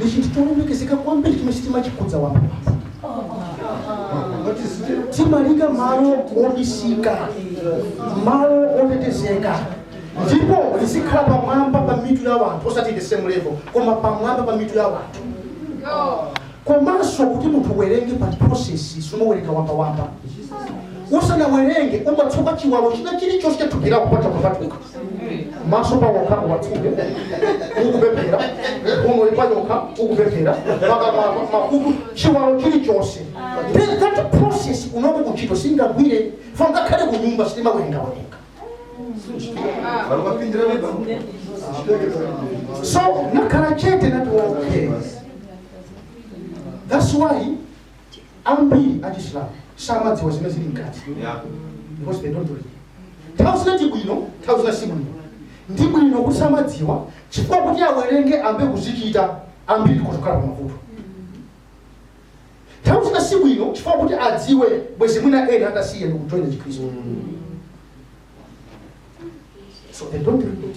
ndi chinthu cholemekezeka kwambiri chimene sitimachikhudza wamba timaliika malo obisika malo otetezeka ndipo lizikhala pamwamba pa mitu ya wanthu osati the same level koma pamwamba pa mitu ya wanthu komanso kuti munthu uwerenge pali process sumawerenga wambawamba usanawerenge umatsuka chiwalo china chilichonse chathupi lako patalokhapalokha maso pawokha uwatsuke ukupemphera mphuno payokha ukupemphera pakamwa makutu chiwalo chilichonse Then that process unoko kuchito singagwire fo ngakhale kunyumba sitimawerengawerenga so nakhala chete nati okay that's why Ambiri a Chisilamu samadziwa zimene zili mkati because they don't read. Nthawi zina ndi bwino, nthawi zina si bwino. Ndi bwino kuti samadziwa chifukwa kuti awerenge ayambe kuzichita ambiri kuzakhala pa mavuto. Nthawi zina si bwino chifukwa kuti adziwe bwezi mwina ena atasiya ndi kujoina Chikristu. So they don't read it.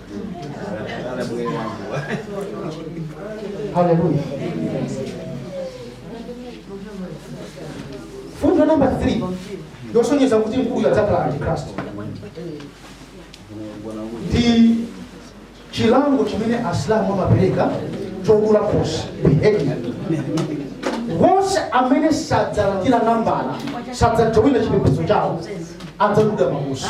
haleluya mfundo namba 3 yosonyeza kuti mkuluyu adzakhala antikrist ndi chilango chimene asilamu amapereka chodula khosi beheading onse amene sadzalandira nambala sadzajowina chipembedzo chawo adzadulidwa makosi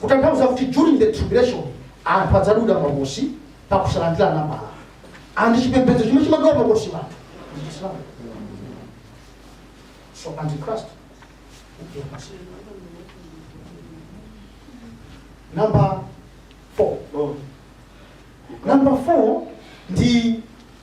Kutanthauza kuti during the tribulation anthu adzadulidwa makosi pakusalandira nambala and chipembedzo chimene chimadula makosi anthu ndi Chisilamu. So antichrist ndiye Masiya. Number 4. Number 4 ndi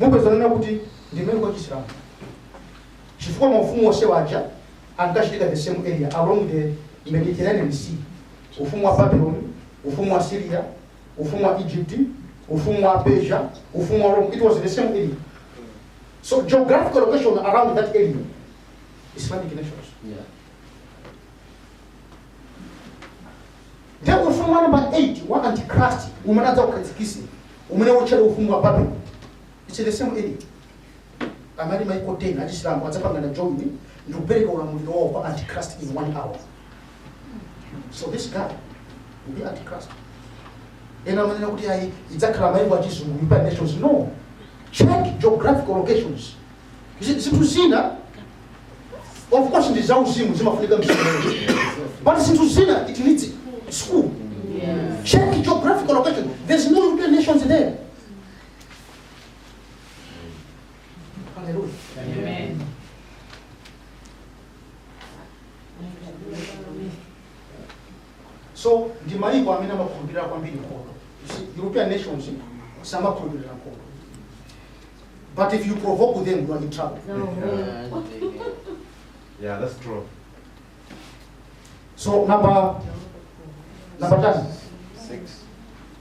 Mupezanso kuti ndi maiko a chisilamu chifukwa maufumu onsewa aja ankachitika the same area along the Mediterranean sea, ufumu wa Babylon, ufumu wa Assyria, ufumu wa Egypt, ufumu wa Persia, ufumu wa Rome, it was the same area. So geographical location around that area, Islamic nations. Yeah. Ndipo ufumu wa nambala 8 wa Antichrist umene adzaukhazikitse umene utchedwa ufumu wa Babeloni. It's the same area. Amati maiko 10 achisilamu adzapangana join ndi kupereka ulamuliro wawo kwa Antichrist in one hour. So this guy will be Antichrist. Ena amanena kuti ayi idzakhala maiko achizungu United Nations. No. Check geographical locations. Zinthu zina of course ndi zauzimu zimafunika mzimu but zinthu zina it needs school check geographical location there's no european nations there Hallelujah. so ndi mayiko amene amakhulupirira kwambiri nkhondo You see, european nations samakhulupirira nkhondo but if you provoke them you are in trouble Yeah, that's true. so number number 10 Six.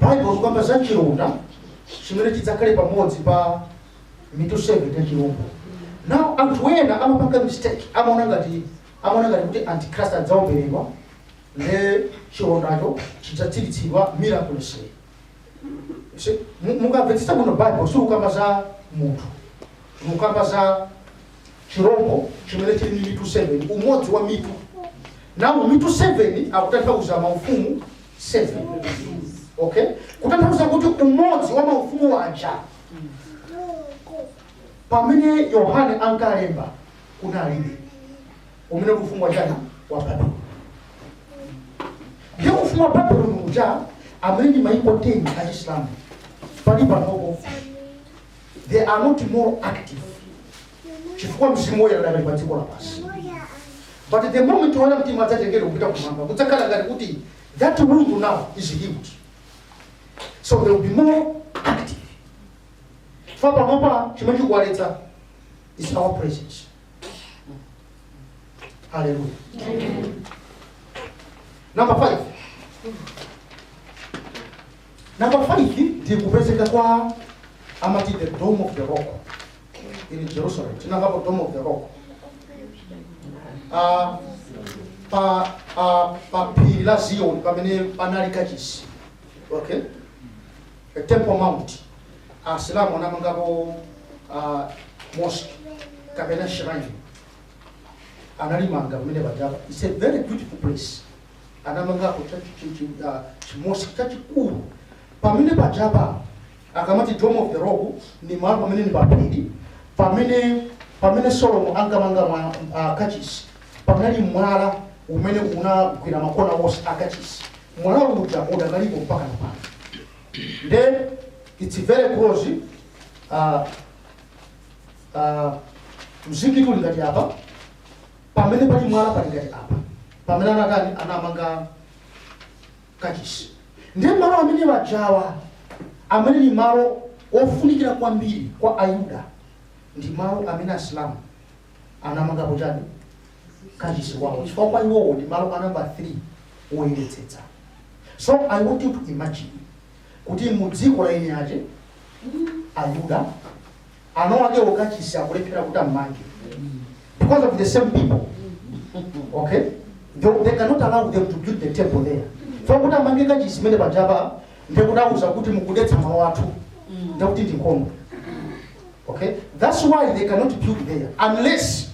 Bible ikukamba za cilonda cimene cidzakhale pamodzi pa mitu 7 ya cilombo. Now anthu ena amapanga mistake, amaona ngati amaona ngati kuti Antichrist adzaombeledwa nde cilondaco cidzatsilitsidwa miraculously. Si- mu- Mukamvetsetsa bwino Bible sikukamba za munthu, likukamba za chirombo chimene chili ndi mitu 7, umodzi wa mitu. Now mitu 7 akutanthauza maufumu 7. Okay? Kutanthauza kuti umodzi wa maufumu aja pamene Yohane ankalemba kunalibe umene uli ufumu wa chani wa Babiloni. Ndiye ufumu wa Babiloni uja amene ndi maiko 10 a Chisilamu pali panopo they are not more active chifukwa mzimu woyera adakali pa dziko lapansi but the moment oyera mtima adzatengedwa kupita kumwamba kudzakhala ngati kuti that wound now is healed so they will be more active chifukwa panopa chimene chikuwaletsa is our presence hallelujah number five Number 5 ndi kupezeka kwa amati the dome of the rock in Jerusalem. Tinamvapo dome of the rock. Ah, pa ah, pa phiri la Zion pamene panali kachisi. Okay? A temple mount. Asilamu anamangapo ah, mosque kapena shrine. Analimanga pamene pajapa. It's a very beautiful place. anamangako chi-mosque chachikulu pamene pajapa akumati dome of the rock ni malo pamene ni paphiri pamene pamene solomon ankamanga mwa- ah, kachisi panali mwala umene unagwira makona onse akachisi mwala uja udakalipo mpaka napano then it's very close uh, uh, mzikiti uli ngati apa Pamene pali mwala pali ngati apa pamene anatani anamanga kachisi ndiye malo amene ajawa amene ni malo ofunikira kwambiri kwa ayuda ndi malo amene asilamu anamangapo chani kachisi wawo chifukwa kwa iwowo ndi malo a namba 3 oyeretsetsa so i want you to imagine kuti mu dziko la eni ache ayuda anawakewo okay kachisi akulephera kuti ammange because of the same people okay they, they cannot allow them to build the temple there so kuti amange kachisi pamene pajapa ndekuti awauza kuti mukudetsa malo athu ndekuti ndi nkhondo okay that's why they cannot build there unless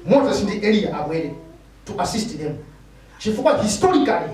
moses ndi eliya abwere to assist them chifukwa historically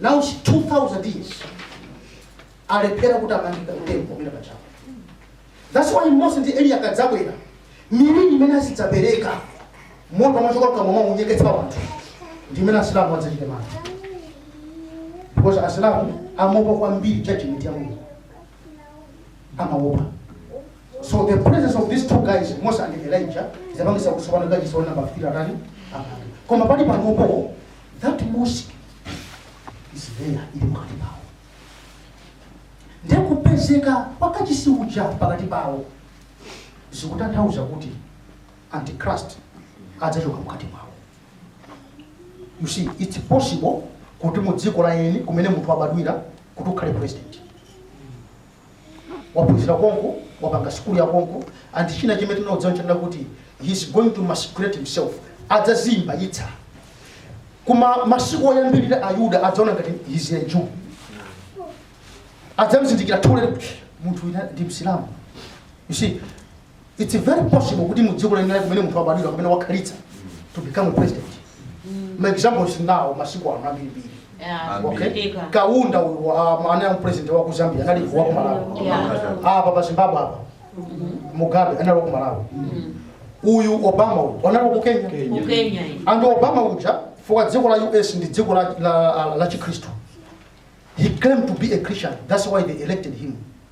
now it's 2000 years alephera kuti amange kachisi temple pamene pajapo that's why mose ndi eliya akadzabwera miliri imene azidzapereka moto umachoka mkamwa mwawo kunyeketsa wanthu ndi imene asilamu adzachite mantha because asilamu amaopa kwambiri judgment ya mulungu amaopa so the presence of these two guys mose and elijah idzapangitsa kuti amange kachisi wa namba 3 atani koma pali panopo that mosque is there ili pakati pawo ndekupezeka kwa kachisi uja pakati pawo zikutanthauza kuti antichrist adzachoka mkati mwawo you see it's possible kuti mu dziko la eni kumene munthu wabadwira kuti ukhale president waphunzira konko wapanga sukulu ya konko and china chimene tinadziwa chonena kuti he is going to masquerade himself adzadzizimbayitsa koma masiku oyambirira ayuda adzaona ngati he is a jew adzamzindikira too late munthu uja ndi msilamu you see it's very possible kuti mu dziko la eni kumene munthu abadwira kumene wakhalitsa to become a president ma examples nawo masiku ano ambirimbiri Yeah. okay Ndika. kaunda uyu wa- anali president wa ku zambia anali wa ku malawi Yeah. apa pa zimbabwe apa mugabe anali wa ku malawi uyu obama uyu anali wa ku kenya Ku Kenya iyi. and obama uja chifukwa dziko la us ndi dziko la, la, la chikhristu he claimed to be a christian that's why they elected him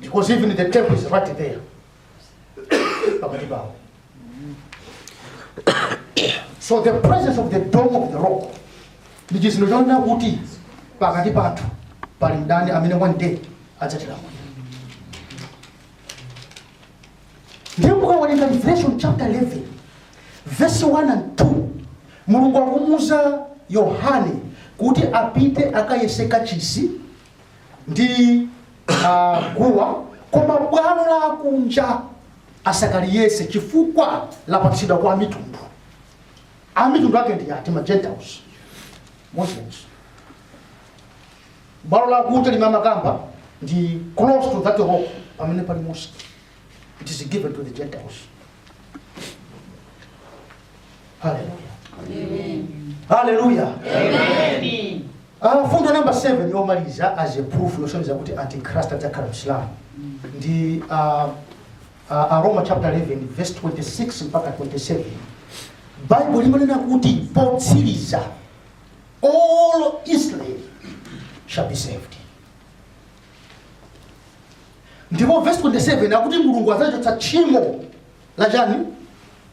because even the temple is right there pakati pawo so the presence of the dome of the rock ndi chizindikiro chonena kuti pakati pathu pali mdani amene one day adzatilamulira ndiye mukawerenga revelation chapter 11 verse 1 and 2 mulungu akumuuza yohane kuti apite akayese kachisi ndi ah, guwa koma bwalo la kunja asakaliyese chifukwa lapatsidwa kwa amitundu amitundu ake ndi ati ma gentiles muslims bwalo la kunja limene amakamba ndi close to that rock pamene pali mosque it is given to the gentiles haleluya haleluya Ah, mfundo namba 7 yomaliza as a proof yosonyeza kuti antichrist adzakhala msilamu ndi ah, ah, aroma chapter 11 verse 26 mpaka 27 baibulo limanena kuti potsiriza all israel shall be saved ndipo verse 27 akuti mulungu adzachotsa tchimo la chiyani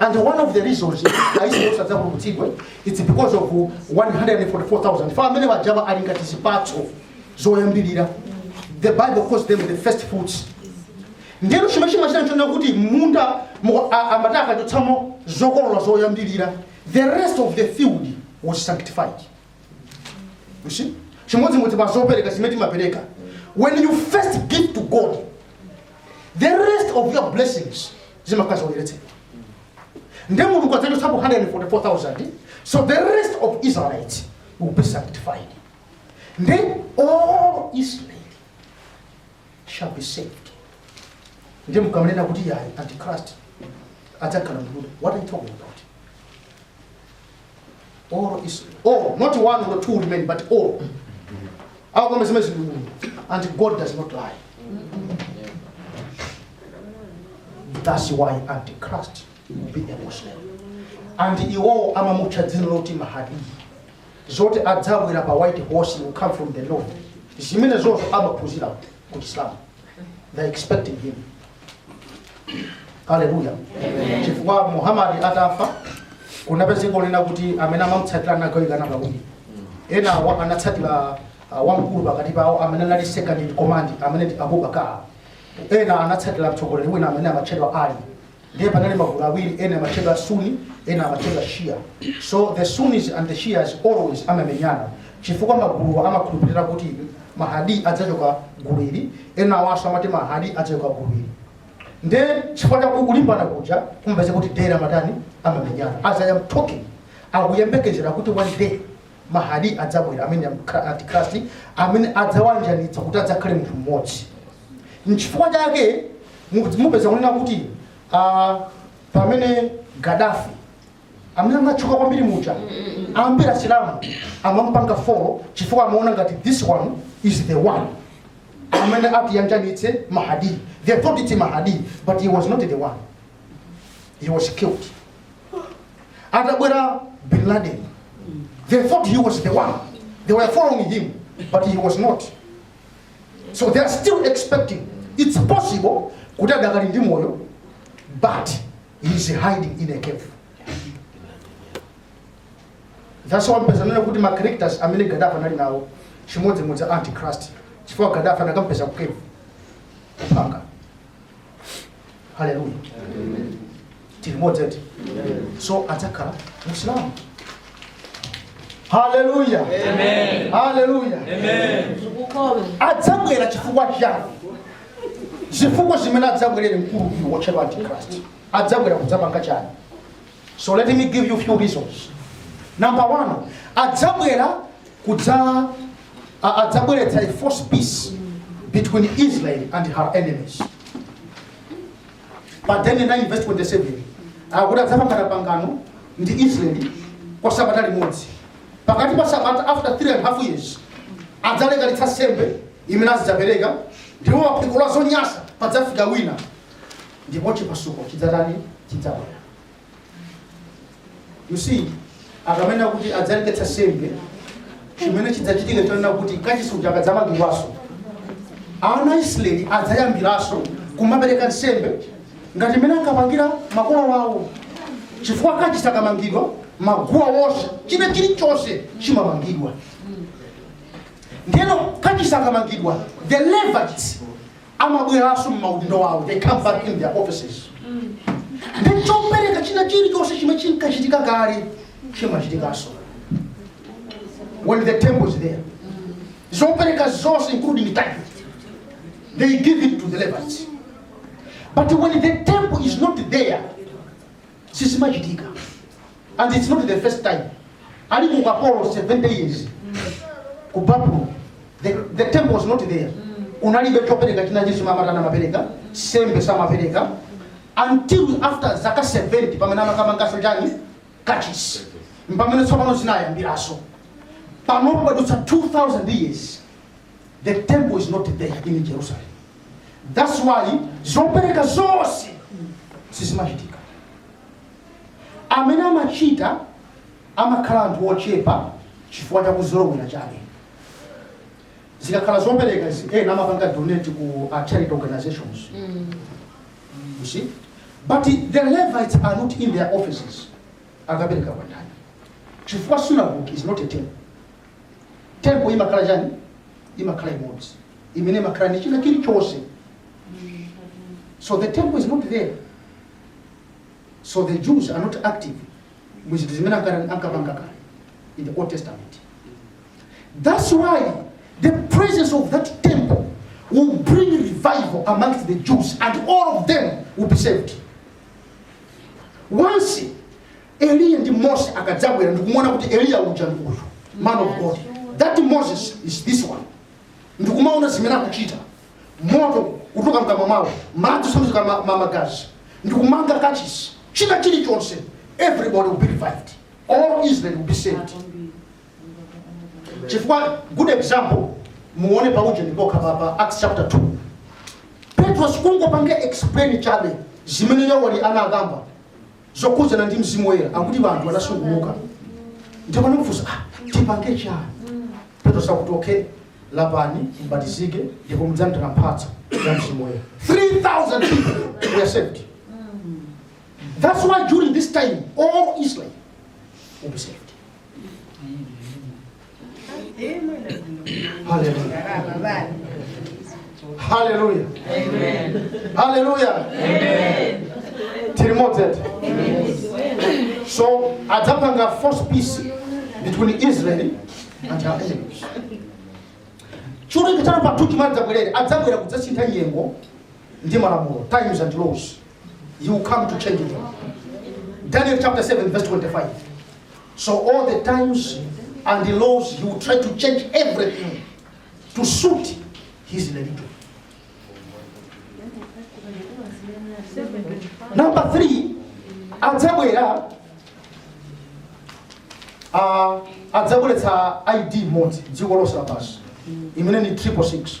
And one of the reasons Aisraeli onse adzapulumutsidwe it's because of 144,000 fa amene wajava ali ngati zipatso zoyambirira the bible calls them the first fruits ndiyeno chimene chimachita nchonena kuti munda mu- a- amati akachotsamo zokolola zoyambirira the rest of the field was sanctified you see chimodzimodzi pa zopereka zimene timapereka when you first give to god the rest of your blessings zimakhala zoyeretsedwa nde mulungu adzachotsapo 144000 so the rest of israelites will be sanctified nde all israel shall be saved nde mukamanena kuti yayi antichrist adzakhala myuda what are you talking about all Israel. All, not one or two remain, but all. How come ndi myuda And God does not lie. That's why Antichrist will be a Muslim. And iwo amamutcha dzina loti mahadi zoti adzabwera pa white horse will come from the north zimenezozo amaphunzira ku Islam they're expecting him haleluya chifukwa muhamadi atafa kunapezeka kunena kuti amene amamutsatira anagawikana pawiri ena anatsatira uh, wamkulu pakati pawo amene anali second in command amene ndi abubakar ena anatsatira mtsogoleri wina amene amatchedwa ali ndiye panali magulu awiri ena amatchedwa sunni ena amatchedwa shia so the sunnis and the shias always amamenyana chifukwa maguluwa amakhulupirira kuti mahadi adzachoka gulu ili ena awanso amati mahadi adzachoka gulu ili ndiye chifukwa cha kulimbana kuja kumapeza kuti daily amatani amamenyana as i am talking akuyembekezera kuti one day Mahadi adzabwera amene amkha- antikrasti amene adzawayanjanitsa kuti adzakhale munthu mmodzi nchifukwa chake mu- mupeza kunena kuti ah, pamene gadafi amene anatchuka kwambiri muja ambiri asilamu amampanga follow chifukwa amaona ngati this one is the one amene atiyanjanitse mahadi they thought it's mahadi but he was not the one he was killed atabwera bin laden they thought he was the one they were following him but he was not so they are still expecting it's possible kuti adakali ndi moyo but he is hiding in a cave that's why mupeza kunena kuti ma characters amene gadafi anali nawo chimodzimodzi antichrist chifukwa gadafi anakampeza ku cave kupanga haleluya tili motete so adzakhala msilamu haleluya haleluya Ukolo. adzabwera chifukwa chani zifukwa zimene adzabwerere mkulu uyu wotchedwa antichrist adzabwera kudzapanga chani so let me give you few reasons number one adzabwera kudza a- adzabweretsa a false peace between israel and her enemies pa daniel 9 verse 27 akuti adzapangana pangano ndi israeli kwa sabata limodzi pakati pa sabata after 3 and half years adzaleketsa nsembe imene azidzapereka ndipo pa phiko la zonyasa padzafika wina ndipo chipasuko chidzatani chidzabwera you see akamanena kuti adzaleketsa nsembe chimene chidzachitike chonena kuti kachisi uja akadzamangidwanso ana aisraeli adzayambiranso kumapereka nsembe ngati mmene ankapangira makolo wawo chifukwa kachisi akamangidwa maguwa wonse china chilichonse chimamangidwa ndiyeno kachisi akamangidwa the levites amabweranso m'maudindo awo they come back in their offices ndi chopereka china chilichonse chimene chinkachitika kale chimachitikanso when the temple is there zopereka zonse including tithe they give it to the levites but when the temple is not there sizimachitika and its not the first time ali ku ukapolo 70 years ku babulo, the, the temple was not there unalibe chopereka china chilichonse, samatha kumapereka sembe samapereka until after zaka 70 pamene amakamanganso chani kachisi mpamene tsopano zinayambiranso panopo padutsa 2000 years the temple is not there in jerusalem that's why zopereka zonse sizimachitika Amene amachita amakhala anthu ochepa chifukwa cha kuzolowera chabe. Zikakhala zopereka izi, ena amapanga donate ku ma charity organizations. You see? But the Levites are not in their offices. Akapereka kwa ndani? Chifukwa synagogue is not a temple. Temple imakhala chani? Imakhala imodzi. Imene imakhala ndi china chilichonse. So the temple is not there. so the jews are not active mu zinthu zimene anka- ankapanga kale in the old testament that's why the presence of that temple will bring revival amongst the jews and all of them will be saved once eliya ndi mose akadzabwera ndikumaona kuti eliya uja ndi uyu man of god that moses is this one ndikumaona zimene akuchita moto kutuluka mkamwa mwawo madzi kusanduka ma- ma- magazi ndikumanga kachisi china chilichonse everybody will be revived all israel will be saved chifukwa good example muone pauje ndi poti pa- pa acts chapter 2 petro sikungopanga explain chabe zimene yoweli anakamba zokhudzana ndi mzimu woyera akuti anthu anasungumuka ndipo ndikufunsa ah, tipange chani petro sakuti okay Lapani, mbatizike, ndipo mudzalandira mphatso ya mzimu woyera. 3,000 people were saved. That's why during this time, all Israel will be saved. Hallelujah. haleluya haleluya tiri limodzi so adzapanga false peace between israel and her enemies chachiwiri china pa zinthu zimene adzabwerere adzabwera kudzasintha nyengo ndi malamulo times and laws he will come to change them daniel chapter 7 verse 25 so all the times and the laws he will try to change everything to suit his religion. Number three, adzabwera ah, adzabweretsa ID imodzi dziko lonse lapansi imene ni triple six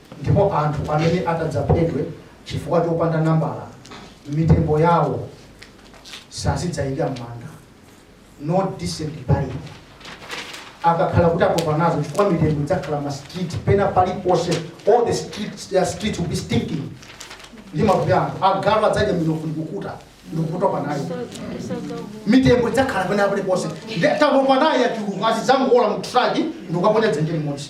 Ndipo anthu amene atadzaphedwe chifukwa chopanda nambala, mitembo yawo sazidzaika m'manda, no decent burial. Akakhala kuti atopa nazo chifukwa mitembo idzakhala m'ma street pena paliponse, all the streets, their streets will be stinking ndi matupi a anthu. Agalu adzadya minofu ndikukuta ndikutopa nayo mitembo idzakhala pena paliponse ndetatopa nayo yachuluka azidzangowola mu truck ndikukaponya dzenje limodzi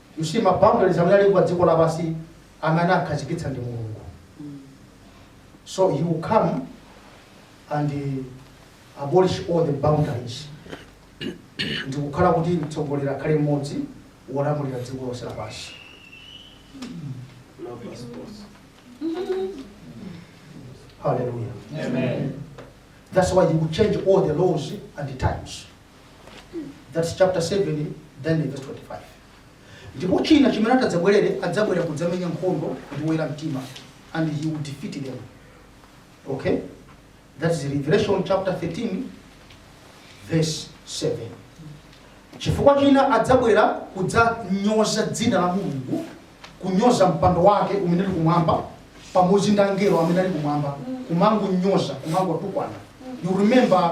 You see ma boundaries amene ali pa dziko lapansi amene anakhazikitsa ndi Mulungu. So he will come and uh, abolish all the boundaries. Ndi kukhala kuti mtsogoleri akhale mmodzi wolamulira dziko lonse lapansi. No passports. Hallelujah. Amen. That's why he will change all the laws and the times. That's chapter 7, Daniel verse 25. Ndipo china chimene atadzabwerere adzabwera kudzamenya nkhondo ndi oyera mtima and he will defeat them. Okay? That is Revelation chapter 13 verse 7. Chifukwa china adzabwera kudzanyoza dzina la Mulungu, kunyoza mpando wake umene uli kumwamba pamodzi ndi angelo amene ali kumwamba, kumangonyoza, kumangotukwana. You remember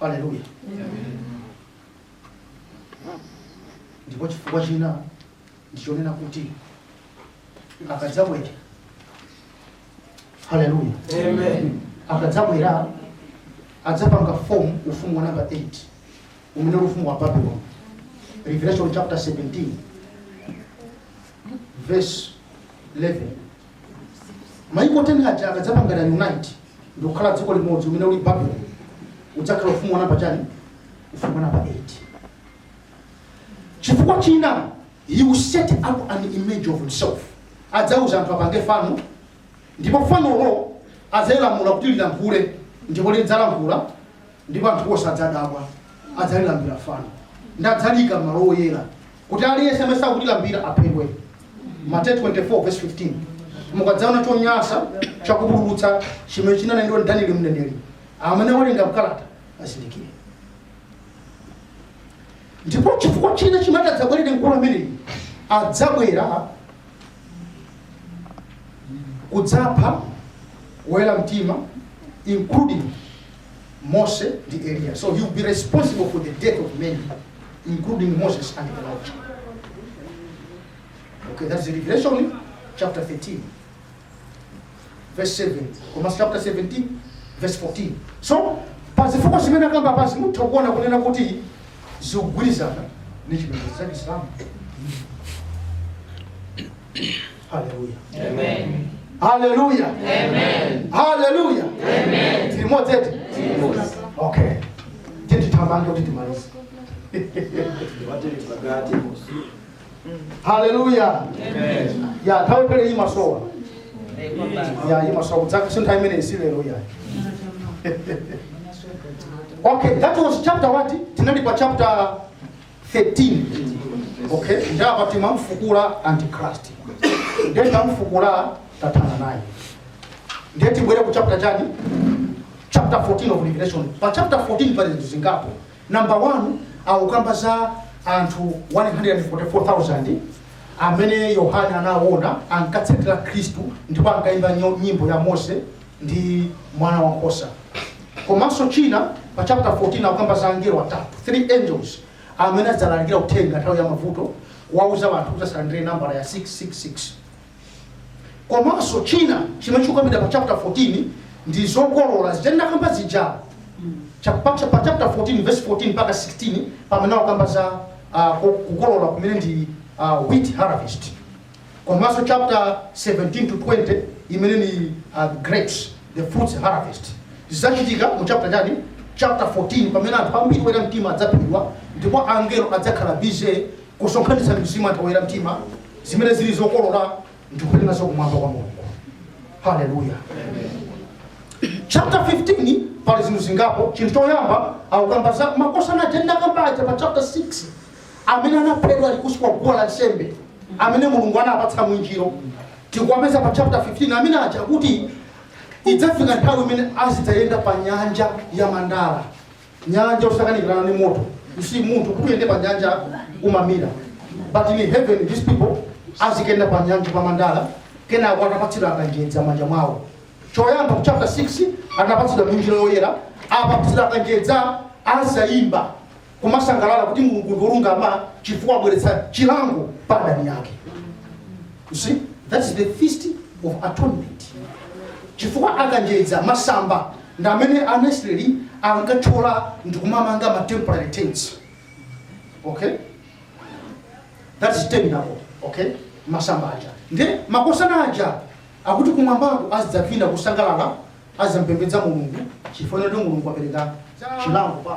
haleluya ndipo chifukwa china ndichonena kuti akadzabwera haleluya Amen. akadzabwera adzapanga form ufumu wa namba 8 umene uli ufumu wa babylon revelation chapter 17 verse 11 maiko 10 aja akadzapanga unite ndikukhala dziko limodzi umene uli babuloni udzakhala ufumu wa namba chani ufumu wa namba 8 chifukwa china he will set up an image of himself adzauza anthu apange fano ndipo fanolo adzalilamula kuti lilankhule ndipo lidzalankhula ndipo anthu onse adzadabwa adzalilambira fano ndadzaliika m'malo oyera kuti aliyense amene sakulilambira aphedwe. Mateyu 24 verse 15. Mukadzaona chonyansa chakupululutsa chimene chinanenedwa ndi Danieli mneneri, amene awerenga m'kalata azindikire. Ndipo chifukwa china chimene atadzabwerere mkulu ameneyi adzabwera kudzapha woyera mtima including Moses and Elijah. So he will be responsible for the death of many, including Moses and Elijah. Okay, that's the Revelation chapter 13, verse 7. Komanso chapter 17, verse 14. So, pa zifukwa zimene akamba pasi mutha kuona kunena kuti zikugwirizana ndi chipembedzo cha Chisilamu. haleluya haleluya haleluya tilimodzi eti okay titithamange kuti timalize haleluya ya nthawi pena imasowa ya imasowa kudzaka si nthawi imene isi lero ya okay that was chapter what tinali pa chapter 13 okay ndi apa timamfukula antichrist ndiye tamfukula tathana naye ndiye tibwere ku chapter chani chapter 14 of revelation pa chapter 14 pali zinthu zingapo number 1 akukamba za anthu 144000 amene yohane anaona ankatsatira khristu ndipo ankayimba nyo- nyimbo ya mose ndi mwana wa nkhosa. Komanso china pa chapter 14 akukamba za angelo atatu, three angels, amene adzalalikira uthenga nthawi ya mavuto kuwauza anthu kuti asalandire nambala ya 666. Komanso china chimene chikukambidwa pa chapter 14 ndi zokolola zija ndakamba zija Cha- pa cha- pa chapter 14 verse 14 mpaka 16 pamene akukamba za ah, ku- kukolola kumene ndi ah, wheat harvest Komanso chapter 17 to 20 imene ni uh, grapes the fruits harvest zidzachitika mu chapter chani chapter 14 pamene anthu ambiri oyera mtima adzaphedwa ndipo angelo adzakhala busy kusonkhanitsa mizimu ya anthu oyera mtima zimene zili zokolola ndikupita nazo kumwamba kwa mulungu haleluya chapter 15 pali zinthu zingapo chinthu choyamba akukamba za makosana aja ndakamba aja pa chapter 6 amene anaphedwa ali kunsi kwa guwa la nsembe amene mulungu anapatsa mwinjiro tikuwapeza pa chapter 15 amene aja kuti idzafika nthawi imene azidzayenda pa nyanja ya mandala nyanja yosakanikirana ni moto si munthu kuti uyende pa nyanja umamira but in heaven these people azikayenda pa nyanja pa mandala kenako anapatsidwa akanjedza m'manja mwawo choyamba ku chapter 6 anapatsidwa mwinjiro yoyera apatsidwa akanjedza azayimba kumasangalala kuti mulungu ndi olungama chifukwa abweretsa chilango pa adani ake you see that's the feast of atonement chifukwa akanjedza masamba ndi amene aisraeli ankathyola ndi kumamanga ma temporary tents okay that is tabernacle okay masamba aja ndi mahosana aja akuti kumwambako azidzavina kusangalala azidzapembedza mulungu chifukwa choti mulungu apereka chilango pa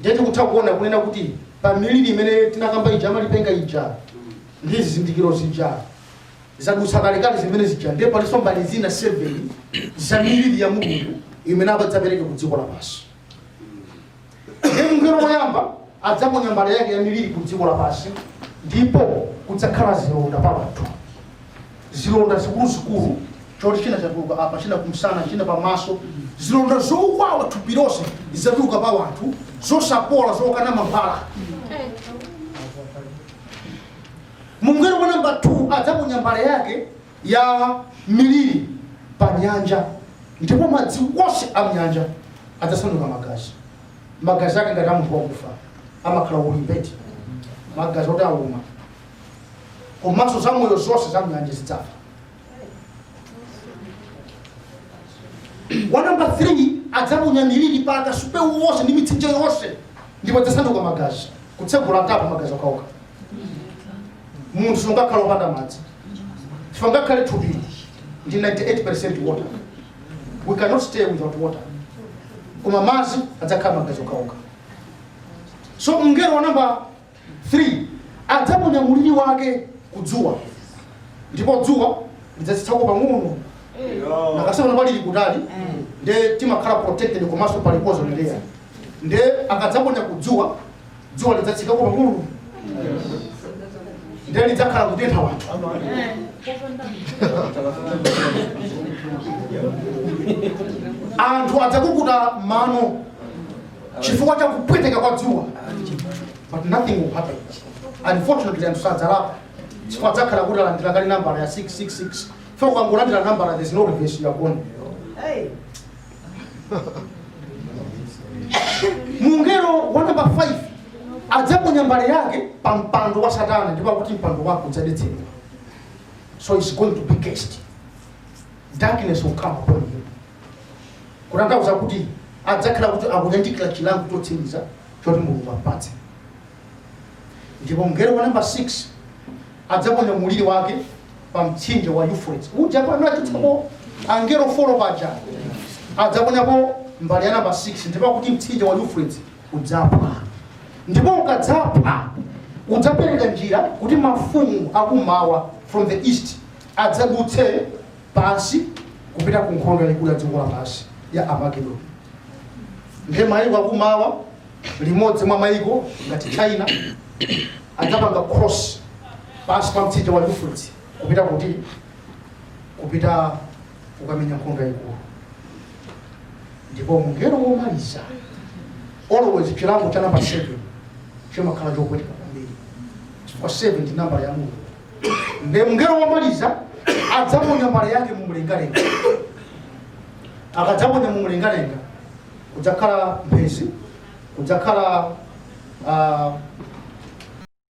Ndiye tikutha kuona kunena kuti pa miliri imene tinakamba ija amalipenga ija ndi zizindikiro zija zadutsa kalekale zimene zija ndiye palinso mbali zina 7 za miliri ya mulungu imene adzapereke ku dziko lapansi ndiye mngelo woyamba adzaponya mbale yake ya miliri ku dziko lapansi ndipo kudzakhala zilonda pa anthu zilonda zikuluzikulu, choti china chatuluka apa, china kumsana, china pamaso, zilonda zowawa thupi lonse zidzatuluka pa wanthu, zosapola, zokana mankhwala. mungelo wa namba 2 adzaponya mbale yake ya miliri pa nyanja ndipo madzi onse a mnyanja adzasanduka magazi magazi ake ngati a munthu wakufa amakhala ulimbeti magazi oti auma komanso zamoyo zonse za mnyanja zidzafa wa namba 3 adzaponya miliri pa akasupe wonse ndi mitsinje yonse ndipo adzasanduka magazi kutsegula tapu magazi okhaokha munthu sungakhala opanda madzi sungakhale thupi ndi 98 water we cannot stay without water koma madzi adzakhala magazi okhaokha so mngelo wa namba 3 adzaponya muliri wake ku dzuwa ndipo dzuwa lidzatsikako pang'ono ngakhale panopa lili kutali nde timakhala protected komanso pali ozone layer nde akadzaponya ku dzuwa dzuwa lidzatsikako pang'ono nde lidzakhala kutentha wanthu anthu adzakukuta mano chifukwa cha kupweteka kwa dzuwa but nothing will happen unfortunately anthu sadzalapa chifukwa adzakhala kuti alandira kale nambala ya 666 chifukwa ukangolandira nambala there's no reverse you are gone mungelo wa namba 5 adzaponya mbale yake pa mpando wa satana ndipo akuti mpando wake udzadetsedwa so it's going to be cast darkness will come upon you kutanthauza kuti adzakhala kuti akuyandikira chilango chotsiriza choti mulungu ampatse ndipo mngelo wa namba 6 adzaponya muliri wake pa mtsinje wa euphrates uja paja anachotsapo angelo 4 paja adzaponyapo mbali ya namba 6 ndipo kuti mtsinje wa euphrates udzaphwa ndipo ukadzaphwa udzapereka njira kuti mafumu akumawa from the east adzadutse pansi kupita ku nkhondo yayikulu ya dziko lapansi ya armagedon ndiye mayiko akumawa limodzi mwa mayiko ngati china adzapanga cross pansi pa mtsinje wa euphrates kupita kuti kupita kukamenya nkhondo yayikulu ndipo mngelo womaliza always chilango cha namba 7 chimakhala chopweteka kwambiri chifukwa 7 ndi namba ya mulungu nde mngelo womaliza adzaponya mbale yake mu mlengalenga akadzaponya mu mlengalenga kudzakhala mphezi kudzakhala ah,